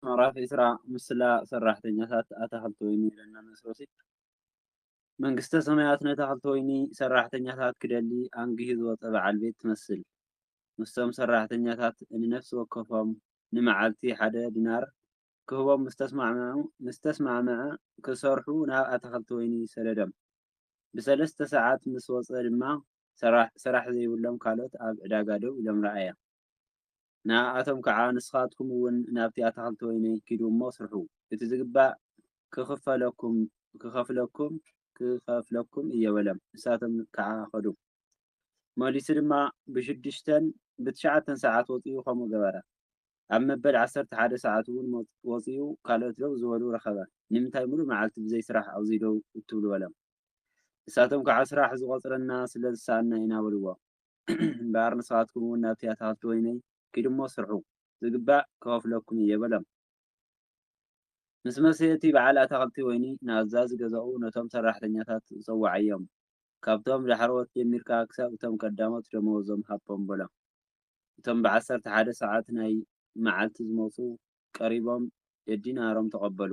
ምዕራፍ ዕስራ ምስላ ሰራሕተኛታት ኣታኽልቲ ወይኒ ለናንስ ሮሲት መንግስተ ሰማያት ነታኽልቲ ወይኒ ሰራሕተኛታት ክደሊ ኣንጊሁ ዝወጸ በዓል ቤት ትመስል። ምስቶም ሰራሕተኛታት ንነፍሲ ወከፎም ንመዓልቲ ሓደ ዲናር ክህቦም ምስ ተስማዕምዐ ክሰርሑ ናብ ኣታኽልቲ ወይኒ ሰደዶም። ብሰለስተ ሰዓት ምስ ወጸ ድማ ስራሕ ዘይብሎም ካልኦት ኣብ ዕዳጋ ደው ኢሎም ረኣየ። ንኣኣቶም ከዓ ንስኻትኩም እውን ናብቲ ኣታኽልቲ ወይነይ ኪዱ እሞ ስርሑ፣ እቲ ዝግባእ ክኽፈለኩም ክኸፍለኩም ክኸፍለኩም እየ በለም። ንሳቶም ከዓ ኸዱ። መሊሱ ድማ ብሽዱሽተን ብትሽዓተን ሰዓት ወፂኡ ከምኡ ገበረ። ኣብ መበል ዓሰርተ ሓደ ሰዓት እውን ወፂኡ ካልኦት ደው ዝበሉ ረኸበ። ንምንታይ ምሉእ መዓልቲ ብዘይ ስራሕ ኣብዙይ ደው እትብሉ በለም። ንሳቶም ከዓ ስራሕ ዝቖፅረና ስለ ዝሰኣንና ኢና በልዎ። እምበኣር ንስኻትኩም እውን ናብቲ ኣታኽልቲ ወይነይ ኪዱ እሞ ስርሑ፣ ዚግባእ ክኸፍለኩም እየ በሎም። ምስ መሰ እቲ በዓል ኣታኽልቲ ወይኒ ንኣዛዚ ገዛኡ ነቶም ሰራሕተኛታት ጸውዓዮም፣ ካብቶም ዳሕረዎት ጀሚርካ ክሳብ እቶም ቀዳሞት ደመወዞም ሃቦም በሎም። እቶም ብዓሰርተ ሓደ ሰዓት ናይ መዓልቲ ዝመጹ ቀሪቦም ደዲናሮም ተቐበሉ።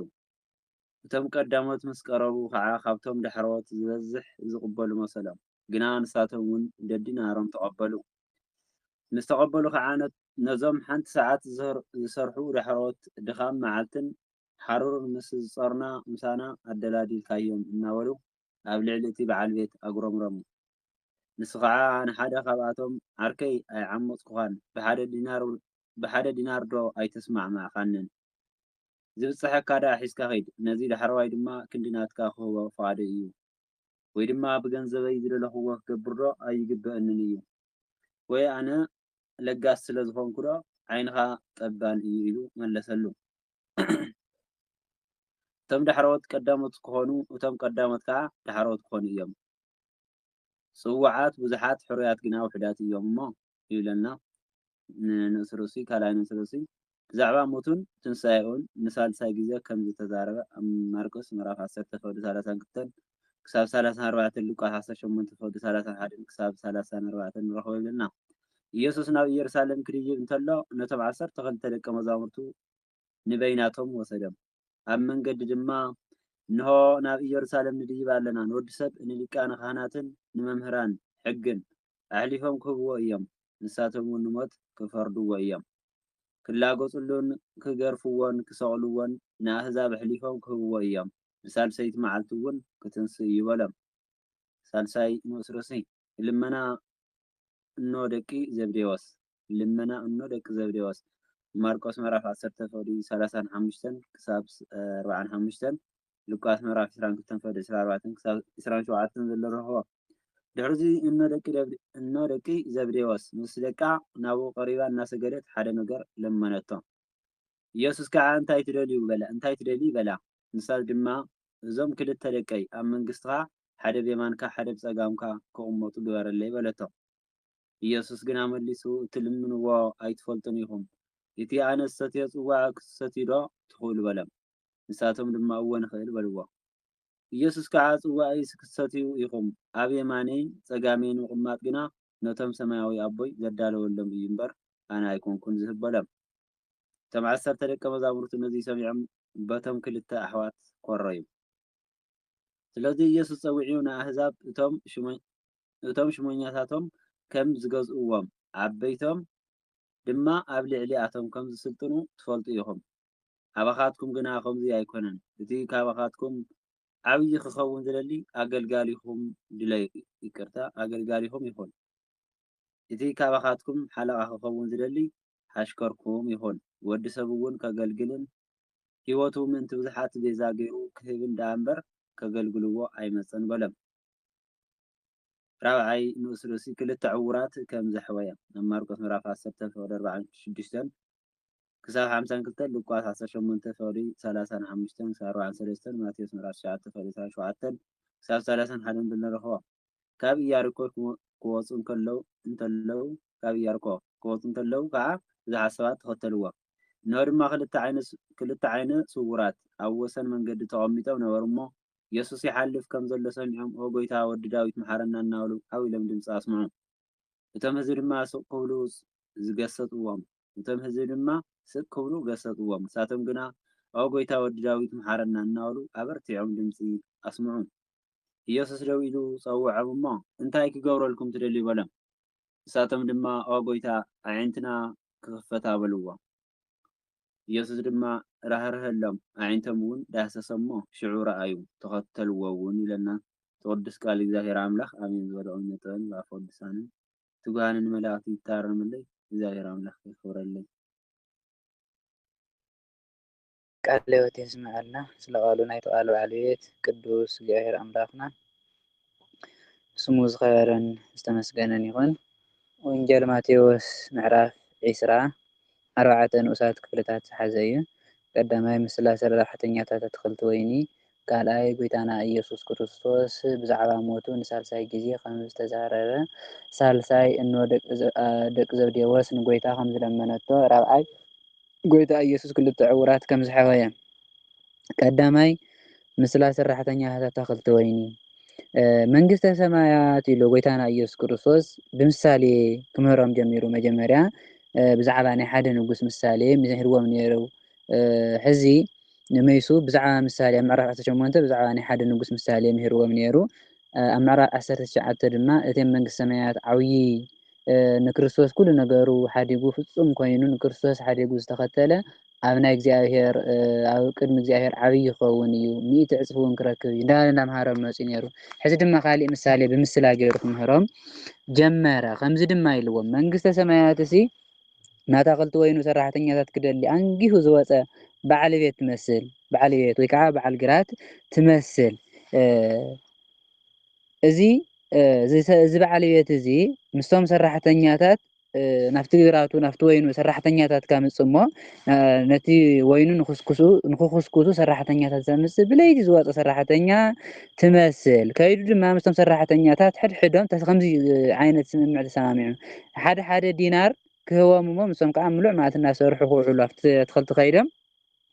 እቶም ቀዳሞት ምስ ቀረቡ ኸኣ ካብቶም ዳሕረዎት ዝበዝሕ ዚቕበሉ መሰሎም። ግና ንሳቶም ውን ደዲ ናሮም ተቐበሉ። ምስ ተቐበሉ ኸዓ ነዞም ሓንቲ ሰዓት ዝሰርሑ ዳሕረዎት ድኻም መዓልትን ሓሩርን ምስ ዝጸሩና ምሳና ኣደላዲልካዮም እናበሉ ኣብ ልዕሊ እቲ በዓል ቤት ኣጉረምረሙ። ንሱ ኸዓ ንሓደ ካብኣቶም ዓርከይ ኣይዓሞጽኩኻን ብሓደ ዲናር ዶ ኣይተስማዕማዕካንን? ዝብጸሐካ ደኣ ሒዝካ ኺድ፣ ነዚ ዳሕረዋይ ድማ ክንዲ ናትካ ክህቦ ፍቓደይ እዩ። ወይ ድማ ብገንዘበይ ዝደለኹዎ ክገብርዶ ኣይግበእንን እዩ? ወይ ኣነ ለጋስ ስለ ዝኾንኩዶ ዓይንኻ ጠባን እዩ ኢሉ መለሰሉ። እቶም ዳሕረዎት ቀዳሞት ክኾኑ እቶም ቀዳሞት ከኣ ዳሕረዎት ክኾኑ እዮም። ጽውዓት ብዙሓት ሕሩያት ግና ውሑዳት እዮም እሞ ይብለና ንርእሲ ርእሱ፣ ካልኣይ ንርእሲ ርእሱ ብዛዕባ ሞቱን ትንሳኤኡን ንሳልሳይ ግዜ ከም ዝተዛረበ ኣብ ማርቆስ ምዕራፍ ዓሰርተ ፍቕዲ ሰላሳን ክልተን ክሳብ ሰላሳን ኣርባዕተን ሉቃስ ዓሰርተ ሸሞንተ ፍቕዲ ሰላሳን ሓደን ክሳብ ሰላሳን ኣርባዕተን ንረኽቦ ይብለና። ኢየሱስ ናብ ኢየሩሳሌም ክድይብ እንተሎ ነቶም ዓሰርተ ክልተ ደቀ መዛሙርቱ ንበይናቶም ወሰዶም። ኣብ መንገዲ ድማ፣ እንሆ፣ ናብ ኢየሩሳሌም ንድይብ ኣለና፣ ንወዲ ሰብ ንሊቃነ ኻህናትን ንመምህራን ሕግን ኣሕሊፎም ኪህብዎ እዮም፣ ንሳቶምውን ንሞት ኪፈርድዎ እዮም፣ ኪላገጹሉን ኪገርፍዎን ኪሰቕልዎን ንኣህዛብ ኣሕሊፎም ኪህብዎ እዮም፣ ብሳልሰይቲ መዓልቲውን ክትንስእ እዩ በሎም። ሳልሳይ ንኡስ ርእሲ። ልመና እኖ ደቂ ዘብዴዎስ። ልመና እኖ ደቂ ዘብዴዎስ ብማርቆስ ምዕራፍ ዓሰርተ ፈውዲ ሰላሳን ሓሙሽተን ክሳብ ኣርብዓን ሓሙሽተን ሉቃስ ምዕራፍ ዕስራን ክልተን ፈውዲ ዕስራ ኣርባዕተን ክሳብ ዕስራን ሸውዓተን ዘሎ ንረኽቦ። ድሕርዚ እኖ ደቂ ደብድ እኖ ደቂ ዘብዴዎስ ምስ ደቃ ናብኡ ቀሪባ እናሰገደት ሓደ ነገር ለመነቶ። ኢየሱስ ከኣ እንታይ ትደልዩ በላ እንታይ ትደልዪ በላ ንሳ ድማ እዞም ክልተ ደቀይ ኣብ መንግስትኻ ሓደ ብየማንካ ሓደ ብጸጋምካ ክቕመጡ ግበረለይ በለቶ። ኢየሱስ ግና መሊሱ እትልምንዎ ኣይትፈልጡን ኢኹም፣ እቲ ኣነ ዝሰትዮ ጽዋእ ክትሰትዩዶ ትኽእሉ በሎም። ንሳቶም ድማ እወ ንኽእል በልዎ። ኢየሱስ ከኣ ጽዋእይስ ክትሰትዩ ኢኹም፣ ኣብ የማነይን ጸጋመይን ምቕማጥ ግና ነቶም ሰማያዊ ኣቦይ ዘዳለወሎም እዩ እምበር ኣነ ኣይኮንኩን ዝህብ በሎም። እቶም ዓሰርተ ደቀ መዛሙርቱ ነዙይ ሰሚዖም በቶም ክልተ ኣሕዋት ኮረዩ። ስለዙይ ኢየሱስ ጸዊዑ ንኣሕዛብ እቶም እቶም ሹመኛታቶም ከም ዝገዝእዎም፣ ዓበይቶም ድማ ኣብ ልዕሊኣቶም ከም ዝስልጥኑ ትፈልጡ ኢኹም። ኣባኻትኩም ግና ከምዚ ኣይኮነን። እቲ ካባኻትኩም ዓብዪ ኺኸውን ዚደሊ ኣገልጋሊኹም ድለ ይቅርታ፣ ኣገልጋሊኹም ይኹን። እቲ ካባኻትኩም ሓለቓ ኺኸውን ዚደሊ ሓሽከርኩም ይኹን። ወዲ ሰብውን ከገልግልን ህይወቱ ምእንቲ ብዙሓት ቤዛ ገይሩ ኪህብን ደኣ እምበር፣ ከገልግልዎ ኣይመጸን በሎም። ራብዓይ ንኡስ ርእሲ ክልተ ዕዉራት ከም ዘሕወየ፣ ኣብ ማርቆስ ምዕራፍ ዓሰርተ ፍቕዲ ኣርብዓን ሽዱሽተን ክሳብ ሓምሳን ክልተ፣ ሉቃስ ዓሰርተ ሸሞንተ ፍቕዲ ሰላሳን ሓሙሽተን ክሳብ ኣርብዓን ሰለስተን፣ ማቴዎስ ምዕራፍ ትሽዓተ ፍቕዲ ዕስራን ሸውዓተን ክሳብ ሰላሳን ሓደን ብንረኽቦ። ካብ ኢያሪኮ ክወጹ እንከለዉ እንከለዉ ካብ ኢያሪኮ ክወጹ እንከለዉ ከኣ ብዙሓት ሰባት ተኸተልዎም። እነሆ ድማ ክልተ ዓይነ ክልተ ዓይነ ስዉራት ኣብ ወሰን መንገዲ ተቐሚጦም ነበሩ እሞ የሱስ ይሓልፍ ከም ዘሎ ሰሚዖም ኦ ጐይታ ወዲ ዳዊት መሓረና እናበሉ ዓው ኢሎም ድምጺ ኣስምዑ። እቶም ህዝቢ ድማ ስቕ ክብሉ ገሰጽዎም እቶም ህዝቢ ድማ ስቕ ክብሉ ገሰጽዎም ንሳቶም ግና ኦ ጐይታ ወዲ ዳዊት መሓረና እናበሉ ኣበርቲዖም ድምጺ ኣስምዑ። ኢየሱስ ደው ኢሉ ጸውዖም እሞ እንታይ ክገብረልኩም ትደልዩ በሎም። ንሳቶም ድማ ኦ ጐይታ ኣዒንትና ክኽፈታ በልዎ። ኢየሱስ ድማ ራህርሀሎም ኣዒንቶምውን ዳህሰሰ እሞ ሽዑ ረኣዩ ተኸተልዎውን ኢለና ትቅዱስ ቃል እግዚኣብሔር ኣምላክ ኣሜን ዝበለ እውነ ጥበብን ብኣፈ ቅዱሳንን ትጉሃንን መላእክቲ ይታረምለይ እግዚኣብሔር ኣምላክ የክብረለይ። ቃለ ህይወት የስመዐልና ስለ ቃሉ ናይቲ ቃል ባለቤት ቅዱስ እግዚኣብሔር ኣምላክና ስሙ ዝኸበረን ዝተመስገነን ይኹን። ወንጌል ማቴዎስ ምዕራፍ ዕስራ ኣርባዕተ ንኡሳት ክፍልታት ዝሓዘ እዩ። ቀዳማይ ምስ ስላሴ ረብሓተኛታት ኣትክልቲ ወይኒ፣ ካልኣይ ጎይታና እየሱስ ክርስቶስ ብዛዕባ ሞቱ ንሳልሳይ ግዜ ከም ዝተዛረበ፣ ሳልሳይ እኖ ደቂ ዘብዴዎስ ንጎይታ ከም ዝለመነቶ፣ ራብዓይ ጎይታ እየሱስ ክልተ ዕውራት ከም ዝሐወየ። ቀዳማይ ምስላ ሰራሕተኛታት ኣታኽልቲ ወይኒ። መንግስተ ሰማያት ኢሉ ጎይታና ኢየሱስ ክርስቶስ ብምሳሌ ክምህሮም ጀሚሩ መጀመርያ ብዛዕባ ናይ ሓደ ንጉስ ምሳሌ ሚሂርዎም ኔሩ ሕዚ ንመይሱ ብዛዕባ ምሳሌ ኣብ ምዕራፍ ዓሰርተ ሸሞንተ ብዛዕባ ናይ ሓደ ንጉስ ምሳሌ ሚሂርዎም ኔሩ ኣብ ምዕራፍ ዓሰርተ ትሽዓተ ድማ እቴም መንግስተ ሰማያት ዓውዪ ንክርስቶስ ኩሉ ነገሩ ሓዲጉ ፍጹም ኮይኑ ንክርስቶስ ሓዲጉ ዝተኸተለ ኣብ ናይ እግዚኣብሔር ኣብ ቅድሚ እግዚኣብሔር ዓብይ ይኸውን እዩ ሚእቲ ዕፅፊ እውን ክረክብ እዩ እንዳበለ እንዳምሃሮም መፅኡ ነይሩ ሕዚ ድማ ካሊእ ምሳሌ ብምስላ ገይሩ ክምህሮም ጀመረ ከምዚ ድማ ኢልዎም መንግስተ ሰማያት እሲ ናታ ክልቲ ወይኑ ሰራሕተኛታት ክደሊ ኣንጊሁ ዝወፀ በዓል ቤት ትመስል በዓል ቤት ወይ ከዓ በዓል ግራት ትመስል እዚ እዚ በዓል ቤት እዚ ምስቶም ሰራሕተኛታት ናብቲ ግራቱ ናብቲ ወይኑ ሰራሕተኛታት ከምፅ እሞ ነቲ ወይኑ ንክኩስኩሱ ሰራሕተኛታት ዘምፅእ ብለይቲ ዝወፀ ሰራሕተኛ ትመስል ከይዱ ድማ ምስቶም ሰራሕተኛታት ሕድሕዶም ከምዚ ዓይነት ስምምዕ ተሰማሚዑ ሓደ ሓደ ዲናር ክህቦም እሞ ንሶም ከዓ ምሉእ መዓልቲ እናሰርሑ ክውዕሉ ኣብቲ ኣትክልቲ ከይዶም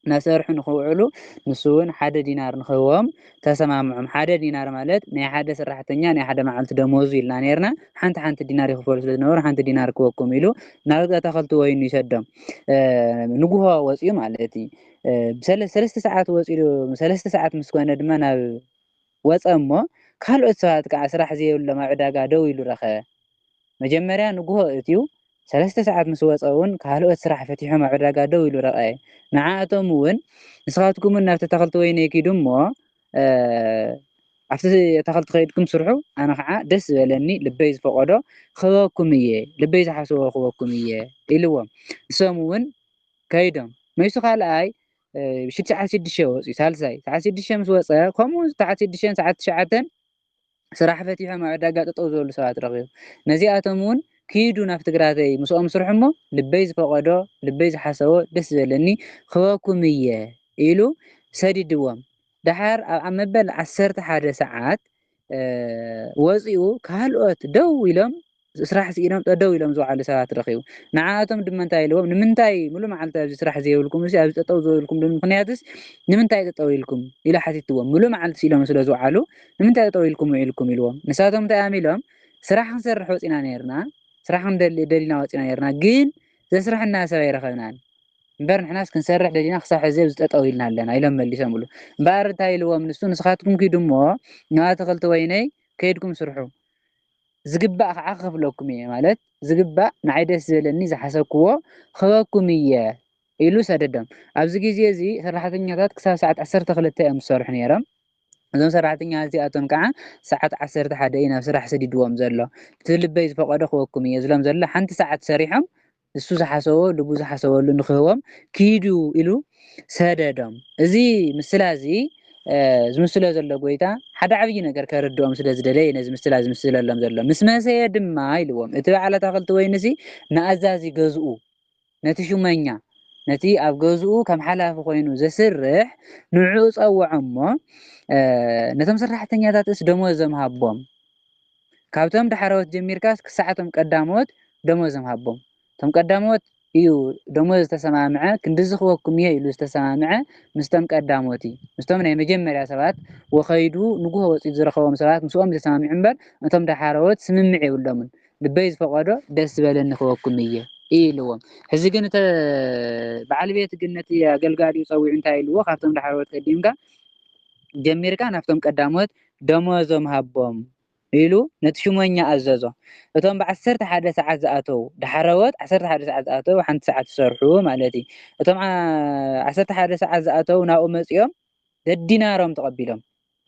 እናሰርሑ ንክውዕሉ ንሱ ውን ሓደ ዲናር ንክህቦም ተሰማምዖም። ሓደ ዲናር ማለት ናይ ሓደ ስራሕተኛ ናይ ሓደ መዓልቲ ደሞዙ ኢልና ኔርና። ሓንቲ ሓንቲ ዲናር ይኽፈሉ ስለ ዝነበሩ ሓንቲ ዲናር ክበኩም ኢሉ ናብ ኣታኸልቲ ወይኑ ይሰዶም። ንጉሆ ወጽኡ ማለት እዩ። ሰለስተ ሰዓት ወጺኡ ሰለስተ ሰዓት ምስ ኮነ ድማ ናብ ወጸ እሞ ካልኦት ሰባት ከኣ ስራሕ ዘየብሎም ኣብ ዕዳጋ ደው ኢሉ ረኸበ። መጀመርያ ንግሆ እትዩ ሰለስተ ሰዓት ምስ ወጸውን ካልኦት ስራሕ ፈቲሖም ኣብ ዕዳጋ ደው ኢሉ ረቐየ። ንዓኣቶምውን ንስኻትኩምውን ናብቲ ኣታኽልቲ ወይነይ ኪዱ እሞ ኣብቲ ኣታኽልቲ ከይድኩም ስርሑ ኣነ ከኣ ደስ ዝበለኒ ልበይ ዝፈቐዶ ክህበኩም እየ ልበይ ዝሓሰቦ ክህበኩም እየ ኢልዎም። ንሶምውን ከይዶም። መይሱ ካልኣይ ምሽት ሰዓት ሽዱሽተ ወፂኡ ሳልሳይ ሰዓት ሽዱሽተ ምስ ወፀ ከምኡ ሰዓት ሽዱሽተን ሰዓት ትሽዓተን ስራሕ ፈቲሖም ኣብ ዕዳጋ ጠጠው ዝበሉ ሰባት ረኺቡ ነዚኣቶም እውን ክይዱ ናብ ትግራተይ ምስኦም ስርሑ እሞ ልበይ ዝፈቐዶ ልበይ ዝሓሰቦ ደስ ዘለኒ ክበኩም እየ ኢሉ ሰዲድዎም ደሓር ኣብ መበል ዓሰርተ ሓደ ሰዓት ወጺኡ ካልኦት ደው ኢሎም ስራሕ ስኢኖም ጠደው ኢሎም ዝውዓሉ ሰባት ረኺቡ ንዓኣቶም ድማ እንታይ ኢልዎም ንምንታይ ሙሉ መዓልቲ ኣብዚ ስራሕ ዘይብልኩም እዚ ኣብዚ ጠጠው ዝበልኩም ምክንያትስ ንምንታይ ጠጠው ኢልኩም ኢሉ ሓቲትዎም ሙሉ መዓልቲ ስኢሎም ስለ ዝውዓሉ ንምንታይ ጠጠው ኢልኩም ውዒልኩም ኢልዎም ንሳቶም እንታይ እዮም ኢሎም ስራሕ ክንሰርሕ ወፂና ነርና ስራሕ ክንደሊ ደሊና ወፂና ነርና ግን ዘስርሐና ሰብ ኣይረኸብናን እምበር ንሕናስ ክንሰርሕ ደሊና ክሳብ ሕዚ ኣብዚ ጠጠው ኢልና ኣለና ኢሎም መሊሶምሉ። እምበኣር እንታይ ኢልዎም ንሱ ንስኻትኩም ኪዱ እሞ ናብ ኣትኽልቲ ወይነይ ከይድኩም ስርሑ ዝግባእ ከዓ ክኸፍለኩም እየ ማለት ዝግባእ ንዓይ ደስ ዝበለኒ ዝሓሰብክዎ ክህበኩም እየ ኢሉ ሰደዶም። ኣብዚ ግዜ እዚ ሰራሕተኛታት ክሳብ ሰዓት 12 እዮም ዝሰርሑ ነይሮም። እዞም ሰራሕተኛታት እዚኣቶም ከዓ ሰዓት 11 እዩ ናብ ስራሕ ሰዲድዎም ዘሎ። እቲ ልበይ ዝፈቐዶ ክህበኩም እየ ዝሎም ዘሎ ሓንቲ ሰዓት ሰሪሖም ንሱ ዝሓሰቦ ልቡ ዝሓሰበሉ ንክህቦም ኪዱ ኢሉ ሰደዶም። እዚ ምስላ እዚ ዝምስሎ ዘሎ ጎይታ ሓደ ዓብዪ ነገር ከርድኦም ስለ ዝደለየ ነዚ ምስላ ዝምስለሎም ዘሎ። ምስ መሰየ ድማ ኢልዎም እቲ በዓል ኣታኽልቲ ወይንሲ ንኣዛዚ ገዝኡ ነቲ ሹመኛ ነቲ ኣብ ገዝኡ ከም ሓላፊ ኮይኑ ዘስርሕ ንዕኡ ጸውዖ እሞ ነቶም ሰራሕተኛታትስ ደሞዞም ሃቦም። ካብቶም ዳሕረዎት ጀሚርካስ ክሳዕ እቶም ቀዳመዎት ደሞዞም ሃቦም እቶም ቀዳመዎት እዩ ደሞዝ ዝተሰማምዐ ክንድዚ ክበኩም እየ ኢሉ ዝተሰማምዐ ምስቶም ቀዳሞት እዩ ምስቶም ናይ መጀመርያ ሰባት ወከይዱ ንጉሆ ወፂኡ ዝረኸቦም ሰባት ምስኦም ዝተሰማምዑ እምበር እቶም ዳሓረዎት ስምምዕ የብሎምን ልበይ ዝፈቀዶ ደስ ዝበለኒ ክበኩም እየ ኢልዎም ሕዚ ግን እተ በዓል ቤት ግን ነቲ ኣገልጋሊኡ ፀዊዑ እንታይ ኢልዎ ካብቶም ዳሓረዎት ቀዲምካ ጀሚርካ ናብቶም ቀዳሞት ደሞዞም ሃቦም ኢሉ ነቲ ሹመኛ ኣዘዞ። እቶም ብዓሰርተ ሓደ ሰዓት ዝኣተዉ፣ ዳሕረዎት ዓሰርተ ሓደ ሰዓት ዝኣተዉ ሓንቲ ሰዓት ይሰርሑ ማለት እዩ። እቶም ዓሰርተ ሓደ ሰዓት ዝኣተዉ ናብኡ መጺኦም ደዲናሮም ተቐቢሎም።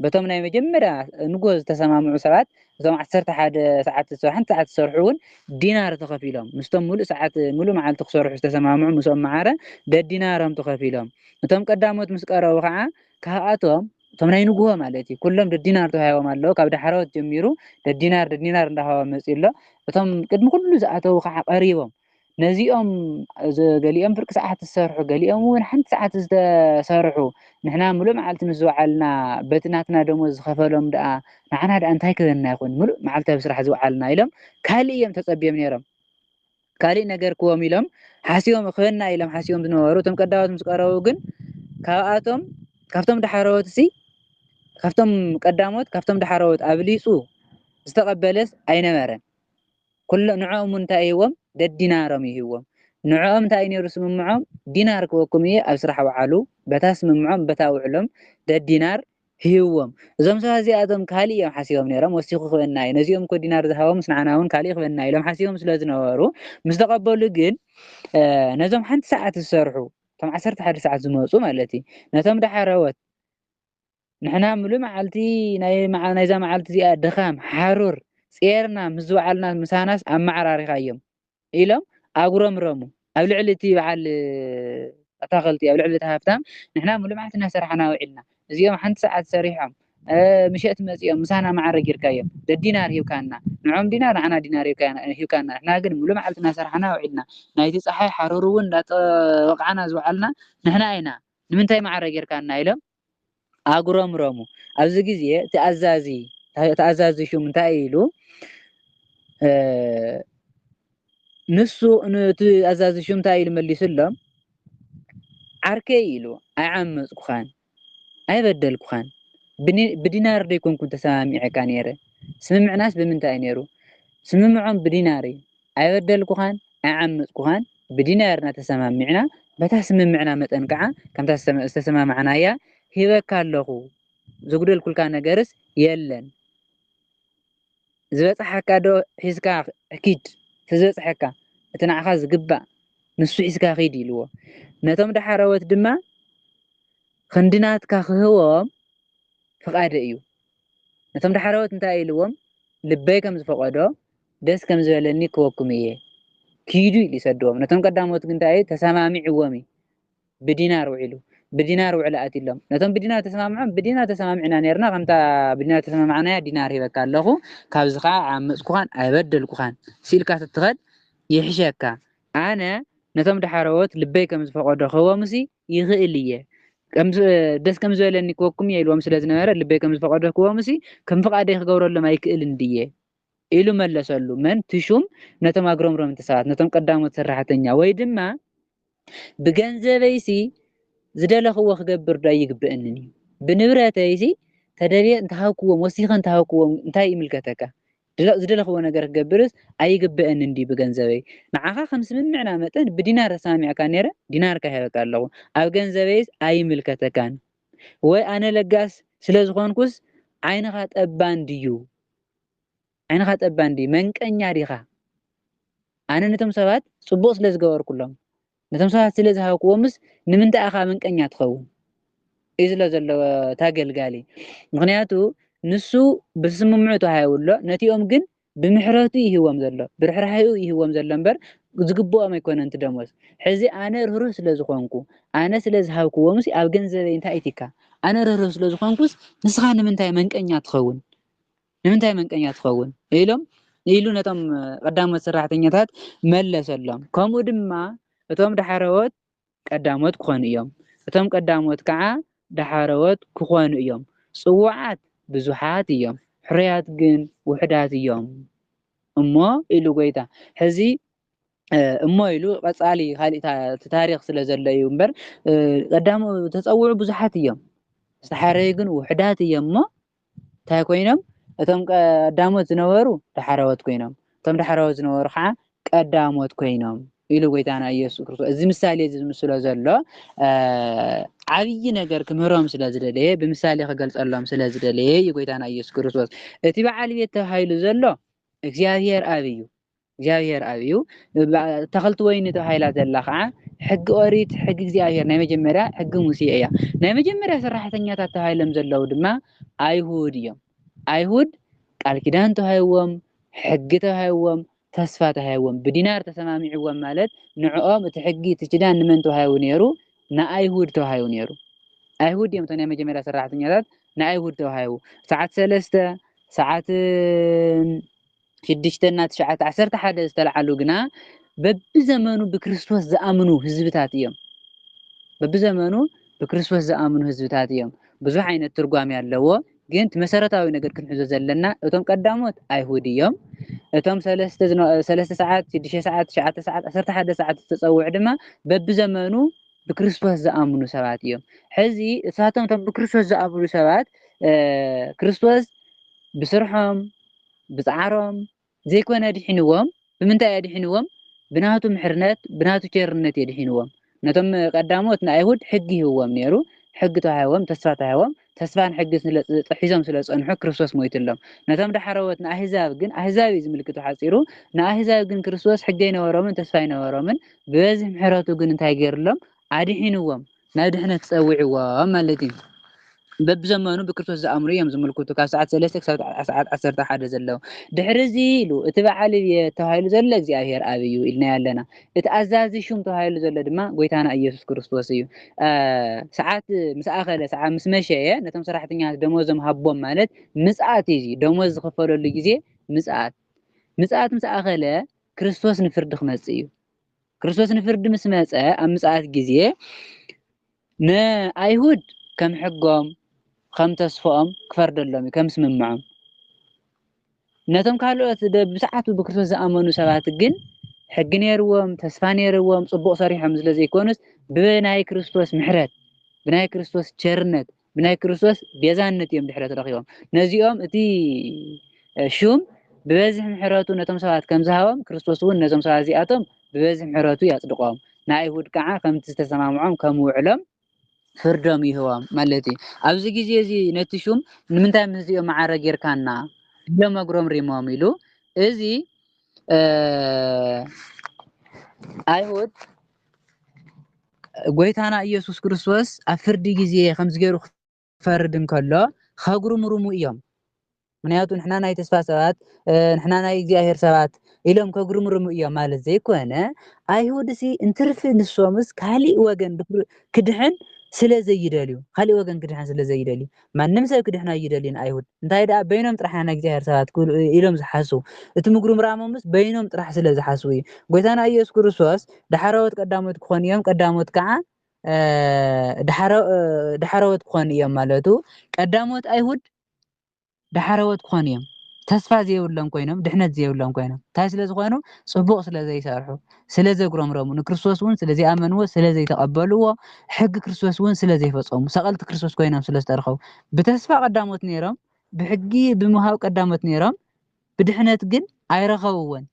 በቶም ናይ መጀመርያ ንግሆ ዝተሰማምዑ ሰባት እቶም ዓሰርተ ሓደ ሰዓት ሓንቲ ሰዓት ዝሰርሑ እውን ዲናር ተኸፊሎም። ምስቶም ምሉእ ሰዓት ምሉእ መዓልቲ ክሰርሑ ዝተሰማምዑ ምስኦም መዓረ ደዲናሮም ተኸፊሎም። እቶም ቀዳሞት ምስ ቀረቡ ከኣ ካብኣቶም እቶም ናይ ንግሆ ማለት እዩ ኩሎም ደዲናር ተዋሂቦም ኣለዉ ካብ ዳሕረዎት ጀሚሩ ደዲናር ደዲናር እንዳሃቦም መፅኡ ኣሎ እቶም ቅድሚ ኩሉ ዝኣተዉ ከዓ ቀሪቦም ነዚኦም ገሊኦም ፍርቂ ሰዓት ዝሰርሑ ገሊኦም እውን ሓንቲ ሰዓት ዝተሰርሑ ንሕና ምሉእ መዓልቲ ምስ ዝወዓልና በቲ ናትና ደሞዝ ዝኸፈሎም ደኣ ንዓና ደኣ እንታይ ክበና ይኹን ምሉእ መዓልቲ ኣብ ስራሕ ዝወዓልና ኢሎም ካልእ እዮም ተፀቢዮም ነይሮም ካልእ ነገርክዎም ኢሎም ሓሲቦም ክበና ኢሎም ሓሲቦም ዝነበሩ እቶም ቀዳሞት ምስ ቀረቡ ግን ካብኣቶም ካብቶም ዳሕረዎትሲ ካብቶም ቀዳሞት ካብቶም ዳሕረዎት ኣብሊጹ ዝተቐበለስ ኣይነበረን። ኩሎ ንዕኦም እውን እንታይ ይህዎም ደዲናሮም ይህዎም ንዕኦም እንታይ እዩ ነይሩ ስምምዖም ዲናር ክወኩም እየ ኣብ ስራሕ ውዓሉ በታ ስምምዖም በታ ውዕሎም ደዲናር ሂብዎም እዞም ሰባት እዚኣቶም ካልእ ኢዮም ሓሲቦም ነይሮም ወሲኹ ክበና ኢዩ ነዚኦም እኮ ዲናር ዝሃቦምስ ንዓና ውን ካልእ ክበና ኢሎም ሓሲቦም ስለ ዝነበሩ ምስ ተቐበሉ ግን ነዞም ሓንቲ ሰዓት ዝሰርሑ እቶም ዓሰርተ ሓደ ሰዓት ዝመፁ ማለት እዩ ነቶም ዳሓረወት ንሕና ምሉእ መዓልቲ ናይዛ መዓልቲ እዚኣ ድኻም ሓሩር ጼርና ምስ ዝወዓልና ምሳናስ ኣመዓራሪኻዮም ኢሎም ኣጉረምረሙ። ኣብ ልዕሊ እቲ በዓል ኣታኽልቲ፣ ኣብ ልዕሊ እቲ ሃብታም፣ ንሕና ብልምዓት እናሰርሓና ውዒልና፣ እዚኦም ሓንቲ ሰዓት ሰሪሖም ምሸት መጺኦም ምሳና መዓረ ጌርካዮም፣ ደዲናር ሂብካና፣ ንዖም ዲናር ንዓና ዲናር ሂብካና፣ ንሕና ግን ሙሉእ መዓልቲ እናሰርሓና ውዒልና፣ ናይቲ ጸሓይ ሓሩር'ውን እንዳተወቓዕና ዝወዓልና ንሕና ኢና፣ ንምንታይ መዓረ ጌርካና? ኢሎም ኣጉረምረሙ። ኣብዚ ግዜ እቲ ኣዛዚ ተኣዛዚ ሹም እንታይ ኢሉ ንሱ እቲ ኣዛዚ ሹም እንታይ ኢሉ መሊሱሎም ዓርከይ ኢሉ ኣይዓመፅኩኻን ኣይበደልኩኻን ብዲናር ዶ ይኮንኩን ተሰማሚዐካ ነይረ ስምምዕናስ ብምንታይ እዩ ነይሩ ስምምዖም ብዲናር እዩ ኣይበደልኩኻን ኣይዓመጽኩኻን ብዲናርና ተሰማሚዕና በታ ስምምዕና መጠን ከኣ ከምታ ዝተሰማማዕናያ ሂበካ ኣለኹ ዘጉደልኩልካ ነገርስ የለን ዝበጽሓካ ዶ ሒዝካ ኪድ እቲ ዝበጽሐካ እቲ ንዓኻ ዝግባእ ንሱ ሒዝካ ኺድ ኢልዎ ነቶም ዳሓረዎት ድማ ክንዲ ናትካ ክህቦም ፍቓደ እዩ ነቶም ዳሓረዎት እንታይ ኢልዎም ልበይ ከም ዝፈቐዶ ደስ ከም ዝበለኒ ክበኩም እየ ኪዱ ኢሉ ይሰድዎም ነቶም ቀዳሞት ግን ታይ እዩ ተሳማሚዕዎም እዩ ብዲናር ውዒሉ ብዲናር ውዕል ኣትዩ እሎም ነቶም ብዲናር ተሰማምዖም ብዲናር ተሰማሚዕና ነርና ከምታ ብዲናር ተሰማማዕናያ ዲናር ሂበካ ኣለኹ ካብዚ ከዓ ኣይዓመፅኩኻን ኣይበደልኩኻን ሲልካ ትትኸድ ይሕሸካ ኣነ ነቶም ዳሓረዎት ልበይ ከም ዝፈቐዶ ክህቦምሲ ይኽእል እየ ደስ ከም ዝበለኒ ክበኩም እየ ኢልዎም ስለ ዝነበረ ልበይ ከም ዝፈቐዶ ክህቦምሲ ከም ፍቓደይ ክገብረሎም ኣይክእልን ድየ ኢሉ መለሰሉ። መን? እቲ ሹም ነቶም ኣግረምረምቲ ሰባት፣ ነቶም ቀዳሞት ሰራሕተኛ፣ ወይ ድማ ብገንዘበይሲ ዝደለኽዎ ክገብርዶ ኣይግበእንን እዩ? ብንብረተይሲ ተደልየ እንተ ሃብክዎም፣ ወሲኸ እንተ ሃብክዎም እንታይ ይምልከተካ? ዝደለኽዎ ነገር ክገብርስ ኣይግበእንን ድዩ ብገንዘበይ? ንዓኻ ከም ስምምዕና መጠን ብዲናር ተሰማሚዕካ ነይረ፣ ዲናርካ ሂበካ ኣለኹ። ኣብ ገንዘበይስ ኣይምልከተካን። ወይ ኣነ ለጋስ ስለ ዝኾንኩስ ዓይንኻ ጠባን ድዩ? ዓይንኻ ጠባ እንድዩ መንቀኛ ዲኻ ኣነ ነቶም ሰባት ጽቡቕ ስለ ዝገበርኩሎም ነቶም ሰባት ስለ ዝሃብክዎምስ ንምንታይ ኢኻ መንቀኛ ትኸውን እዩ ዝሎ ዘሎ ታገልጋሊ ምክንያቱ ንሱ ብስምምዑ ተዋሂቡ ኣሎ ነቲኦም ግን ብምሕረቱ ይህዎም ዘሎ ብርሕራሒኡ ይህዎም ዘሎ እምበር ዝግብኦም ኣይኮነን እቲ ደሞዝ ሕዚ ኣነ ርህሩህ ስለ ዝኾንኩ ኣነ ስለ ዝሃብክዎ ምስ ኣብ ገንዘበይ እንታይ ኢትካ ኣነ ርህሩህ ስለ ዝኾንኩስ ንስኻ ንምንታይ መንቀኛ ትኸውን ንምንታይ መንቀኛ ትኸውን? ኢሎም ኢሉ ነቶም ቀዳሞት ሰራሕተኛታት መለሰሎም። ከምኡ ድማ እቶም ዳሕረዎት ቀዳሞት ክኾኑ እዮም፣ እቶም ቀዳሞት ከዓ ዳሕረዎት ክኾኑ እዮም። ጽዉዓት ብዙሓት እዮም፣ ሕሩያት ግን ውሑዳት እዮም እሞ ኢሉ ጐይታ። ሕዚ እሞ ኢሉ ቀጻሊ ካልእ እቲ ታሪኽ ስለ ዘሎ እዩ እምበር ቀዳሙ ተጸውዑ ብዙሓት እዮም ዝተሓረዩ ግን ውሕዳት እዮም እሞ እንታይ ኮይኖም እቶም ቀዳሞት ዝነበሩ ዳሕረዎት ኮይኖም እቶም ዳሕረዎት ዝነበሩ ከዓ ቀዳሞት ኮይኖም ኢሉ ጎይታና ኢየሱስ ክርስቶስ እዚ ምሳሌ እዚ ዝምስሎ ዘሎ ዓብዪ ነገር ክምህሮም ስለ ዝደለየ ብምሳሌ ክገልጸሎም ስለ ዝደለየ እዩ ጎይታና ኢየሱስ ክርስቶስ እቲ በዓል ቤት ተባሂሉ ዘሎ እግዚኣብሔር ኣብ እዩ እግዚኣብሄር ኣብ እዩ። ተኸልቲ ወይኒ ተባሂላ ዘላ ከዓ ሕጊ ኦሪት፣ ሕጊ እግዚኣብሄር ናይ መጀመርያ ሕጊ ሙሴ እያ። ናይ መጀመርያ ሰራሕተኛታት ተባሂሎም ዘለዉ ድማ ኣይሁድ እዮም። ኣይሁድ ቃል ኪዳን ተዋሂዎም፣ ሕጊ ተዋሂዎም፣ ተስፋ ተዋሂዎም፣ ብዲናር ተሰማሚዕዎም ማለት ንዕኦም እቲ ሕጊ እቲ ኪዳን ንመን ተዋሂቡ ነይሩ? ንኣይሁድ ተዋሂቡ ነይሩ። ኣይሁድ እዮም እቶም ናይ መጀመርያ ሰራሕተኛታት ንኣይሁድ ተዋሂቡ። ሰዓት ሰለስተ ሰዓት ሽዱሽተ እና ትሽዓተ ዓሰርተ ሓደ ዝተልዓሉ ግና በብዘመኑ ብክርስቶስ ዝኣምኑ ህዝብታት እዮም። በብዘመኑ ብክርስቶስ ዝኣምኑ ህዝብታት እዮም። ብዙሕ ዓይነት ትርጓሜ ኣለዎ። ግን እቲ መሰረታዊ ነገር ክንሕዞ ዘለና እቶም ቀዳሞት ኣይሁድ እዮም። እቶም ሰለስተ ዝነ- ሰለስተ ሰዓት፣ ሽዱሽተ ሰዓት፣ ትሽዓተ ሰዓት፣ ዓሰርተ ሓደ ሰዓት ዝተጸውዑ ድማ በብዘመኑ ብክርስቶስ ዝኣምኑ ሰባት እዮም። ሕዚ እሳቶም እቶም ብክርስቶስ ዝኣምኑ ሰባት እ፣ ክርስቶስ ብስርሖም ብጻዕሮም ዘይኮነ ኣድሒንዎም ብምንታይ እዩ ኣድሒንዎም ብናቱ ምሕርነት ብናቱ ቸርነት እዩ ኣድሒንዎም ነቶም ቀዳሞት ንኣይሁድ ሕጊ ሂብዎም ኔሩ ሕጊ ተዋሂቦም ተስፋ ተዋሂቦም ተስፋን ሕግን ስለ ሒዞም ስለ ዝጸንሑ ክርስቶስ ሞይትሎም ነቶም ዳሕረዎት ንኣህዛብ ግን ኣህዛብ እዩ ዝምልክቱ ሓጺሩ ንኣህዛብ ግን ክርስቶስ ሕጊ ኣይነበሮምን ተስፋ ኣይነበሮምን ብበዝሒ ምሕረቱ ግን እንታይ ጌርሎም ኣድሒንዎም ናብ ድሕነት ጸዊዕዎም ማለት እዩ። በብዘመኑ ብክርስቶስ ዝኣምኑ እዮም ዝምልክቱ ካብ ሰዓት ሰለስተ ክሳብ ሰዓት ዓሰርተ ሓደ ዘሎ ድሕሪ እዚ ኢሉ እቲ በዓል እየ ተባሂሉ ዘሎ እግዚኣብሔር ኣብ እዩ ኢልናዮ ኣለና እቲ ኣዛዚ ሹም ተባሂሉ ዘሎ ድማ ጎይታና ኢየሱስ ክርስቶስ እዩ ሰዓት ምስ ኣኸለ ሰዓት ምስ መሸየ ነቶም ሰራሕተኛታት ደሞዞም ሃቦም ማለት ምጽኣት እዩ ደሞዝ ዝኽፈለሉ ግዜ ምጽኣት ምጽኣት ምስ ኣኸለ ክርስቶስ ንፍርዲ ክመጽእ እዩ ክርስቶስ ንፍርዲ ምስ መጸ ኣብ ምጽኣት ግዜ ንኣይሁድ ከም ሕጎም ከም ተስፎኦም ክፈርደሎም እዩ ከም ስምምዖም ነቶም ካልኦት ብሰዓቱ ብክርስቶስ ዝኣመኑ ሰባት ግን ሕጊ ነይርዎም ተስፋ ነይርዎም ጽቡቕ ሰሪሖም ስለ ዘይኮኑስ ብናይ ክርስቶስ ምሕረት ብናይ ክርስቶስ ቸርነት ብናይ ክርስቶስ ቤዛነት እዮም ድሕረት ረኺቦም። ነዚኦም እቲ ሹም ብበዝሒ ምሕረቱ ነቶም ሰባት ከም ዝሃቦም ክርስቶስ እውን ነዞም ሰባት እዚኣቶም ብበዝሒ ምሕረቱ ያጽድቆም፣ ንኣይሁድ ከዓ ከምቲ ዝተሰማምዖም ከም ውዕሎም ፍርዶም ይህቦም ማለት እዩ ኣብዚ ግዜ እዚ ነቲ ሹም ንምንታይ ምስዚኦም መዓረ ጌርካና ኢሎም ኣጉረምሪሞም ኢሉ እዚ ኣይሁድ ጎይታና ኢየሱስ ክርስቶስ ኣብ ፍርዲ ግዜ ከምዚ ገይሩ ክፈርድ እንከሎ ከጉርምርሙ እዮም ምክንያቱ ንሕና ናይ ተስፋ ሰባት ንሕና ናይ እግዚኣብሔር ሰባት ኢሎም ከጉርምርሙ እዮም ማለት ዘይኮነ ኣይሁድ ሲ እንትርፊ ንሶምስ ካሊእ ወገን ክድሕን ስለ ዘይደልዩ ካሊእ ወገን ክድሕን ስለ ዘይደልዩ ማንም ሰብ ክድሕኑ ኣይደልዩን ኣይሁድ እንታይ ደኣ በይኖም ጥራሕ ኢና ናይ እግዚኣብሔር ሰባት ክብሉ ኢሎም ዝሓስቡ እቲ ምጉርምራሞምስ በይኖም ጥራሕ ስለ ዝሓስቡ እዩ ጎይታና ኢየሱስ ክርስቶስ ዳሕረዎት ቀዳሞት ክኾኑ እዮም ቀዳሞት ከዓ ዳሕረዎት ክኾኑ እዮም ማለቱ ቀዳሞት ኣይሁድ ዳሕረዎት ክኾኑ እዮም ተስፋ ዘይብሎም ኮይኖም ድሕነት ዘይብሎም ኮይኖም እንታይ ስለ ዝኾኑ ጽቡቕ ስለ ዘይሰርሑ ስለ ዘጉረምረሙ፣ ንክርስቶስ እውን ስለ ዘይኣመንዎ፣ ስለ ዘይተቐበልዎ፣ ሕጊ ክርስቶስ እውን ስለ ዘይፈጸሙ፣ ሰቐልቲ ክርስቶስ ኮይኖም ስለ ዝተረኸቡ፣ ብተስፋ ቀዳሞት ነይሮም፣ ብሕጊ ብምውሃብ ቀዳሞት ነይሮም፣ ብድሕነት ግን ኣይረኸብዎን።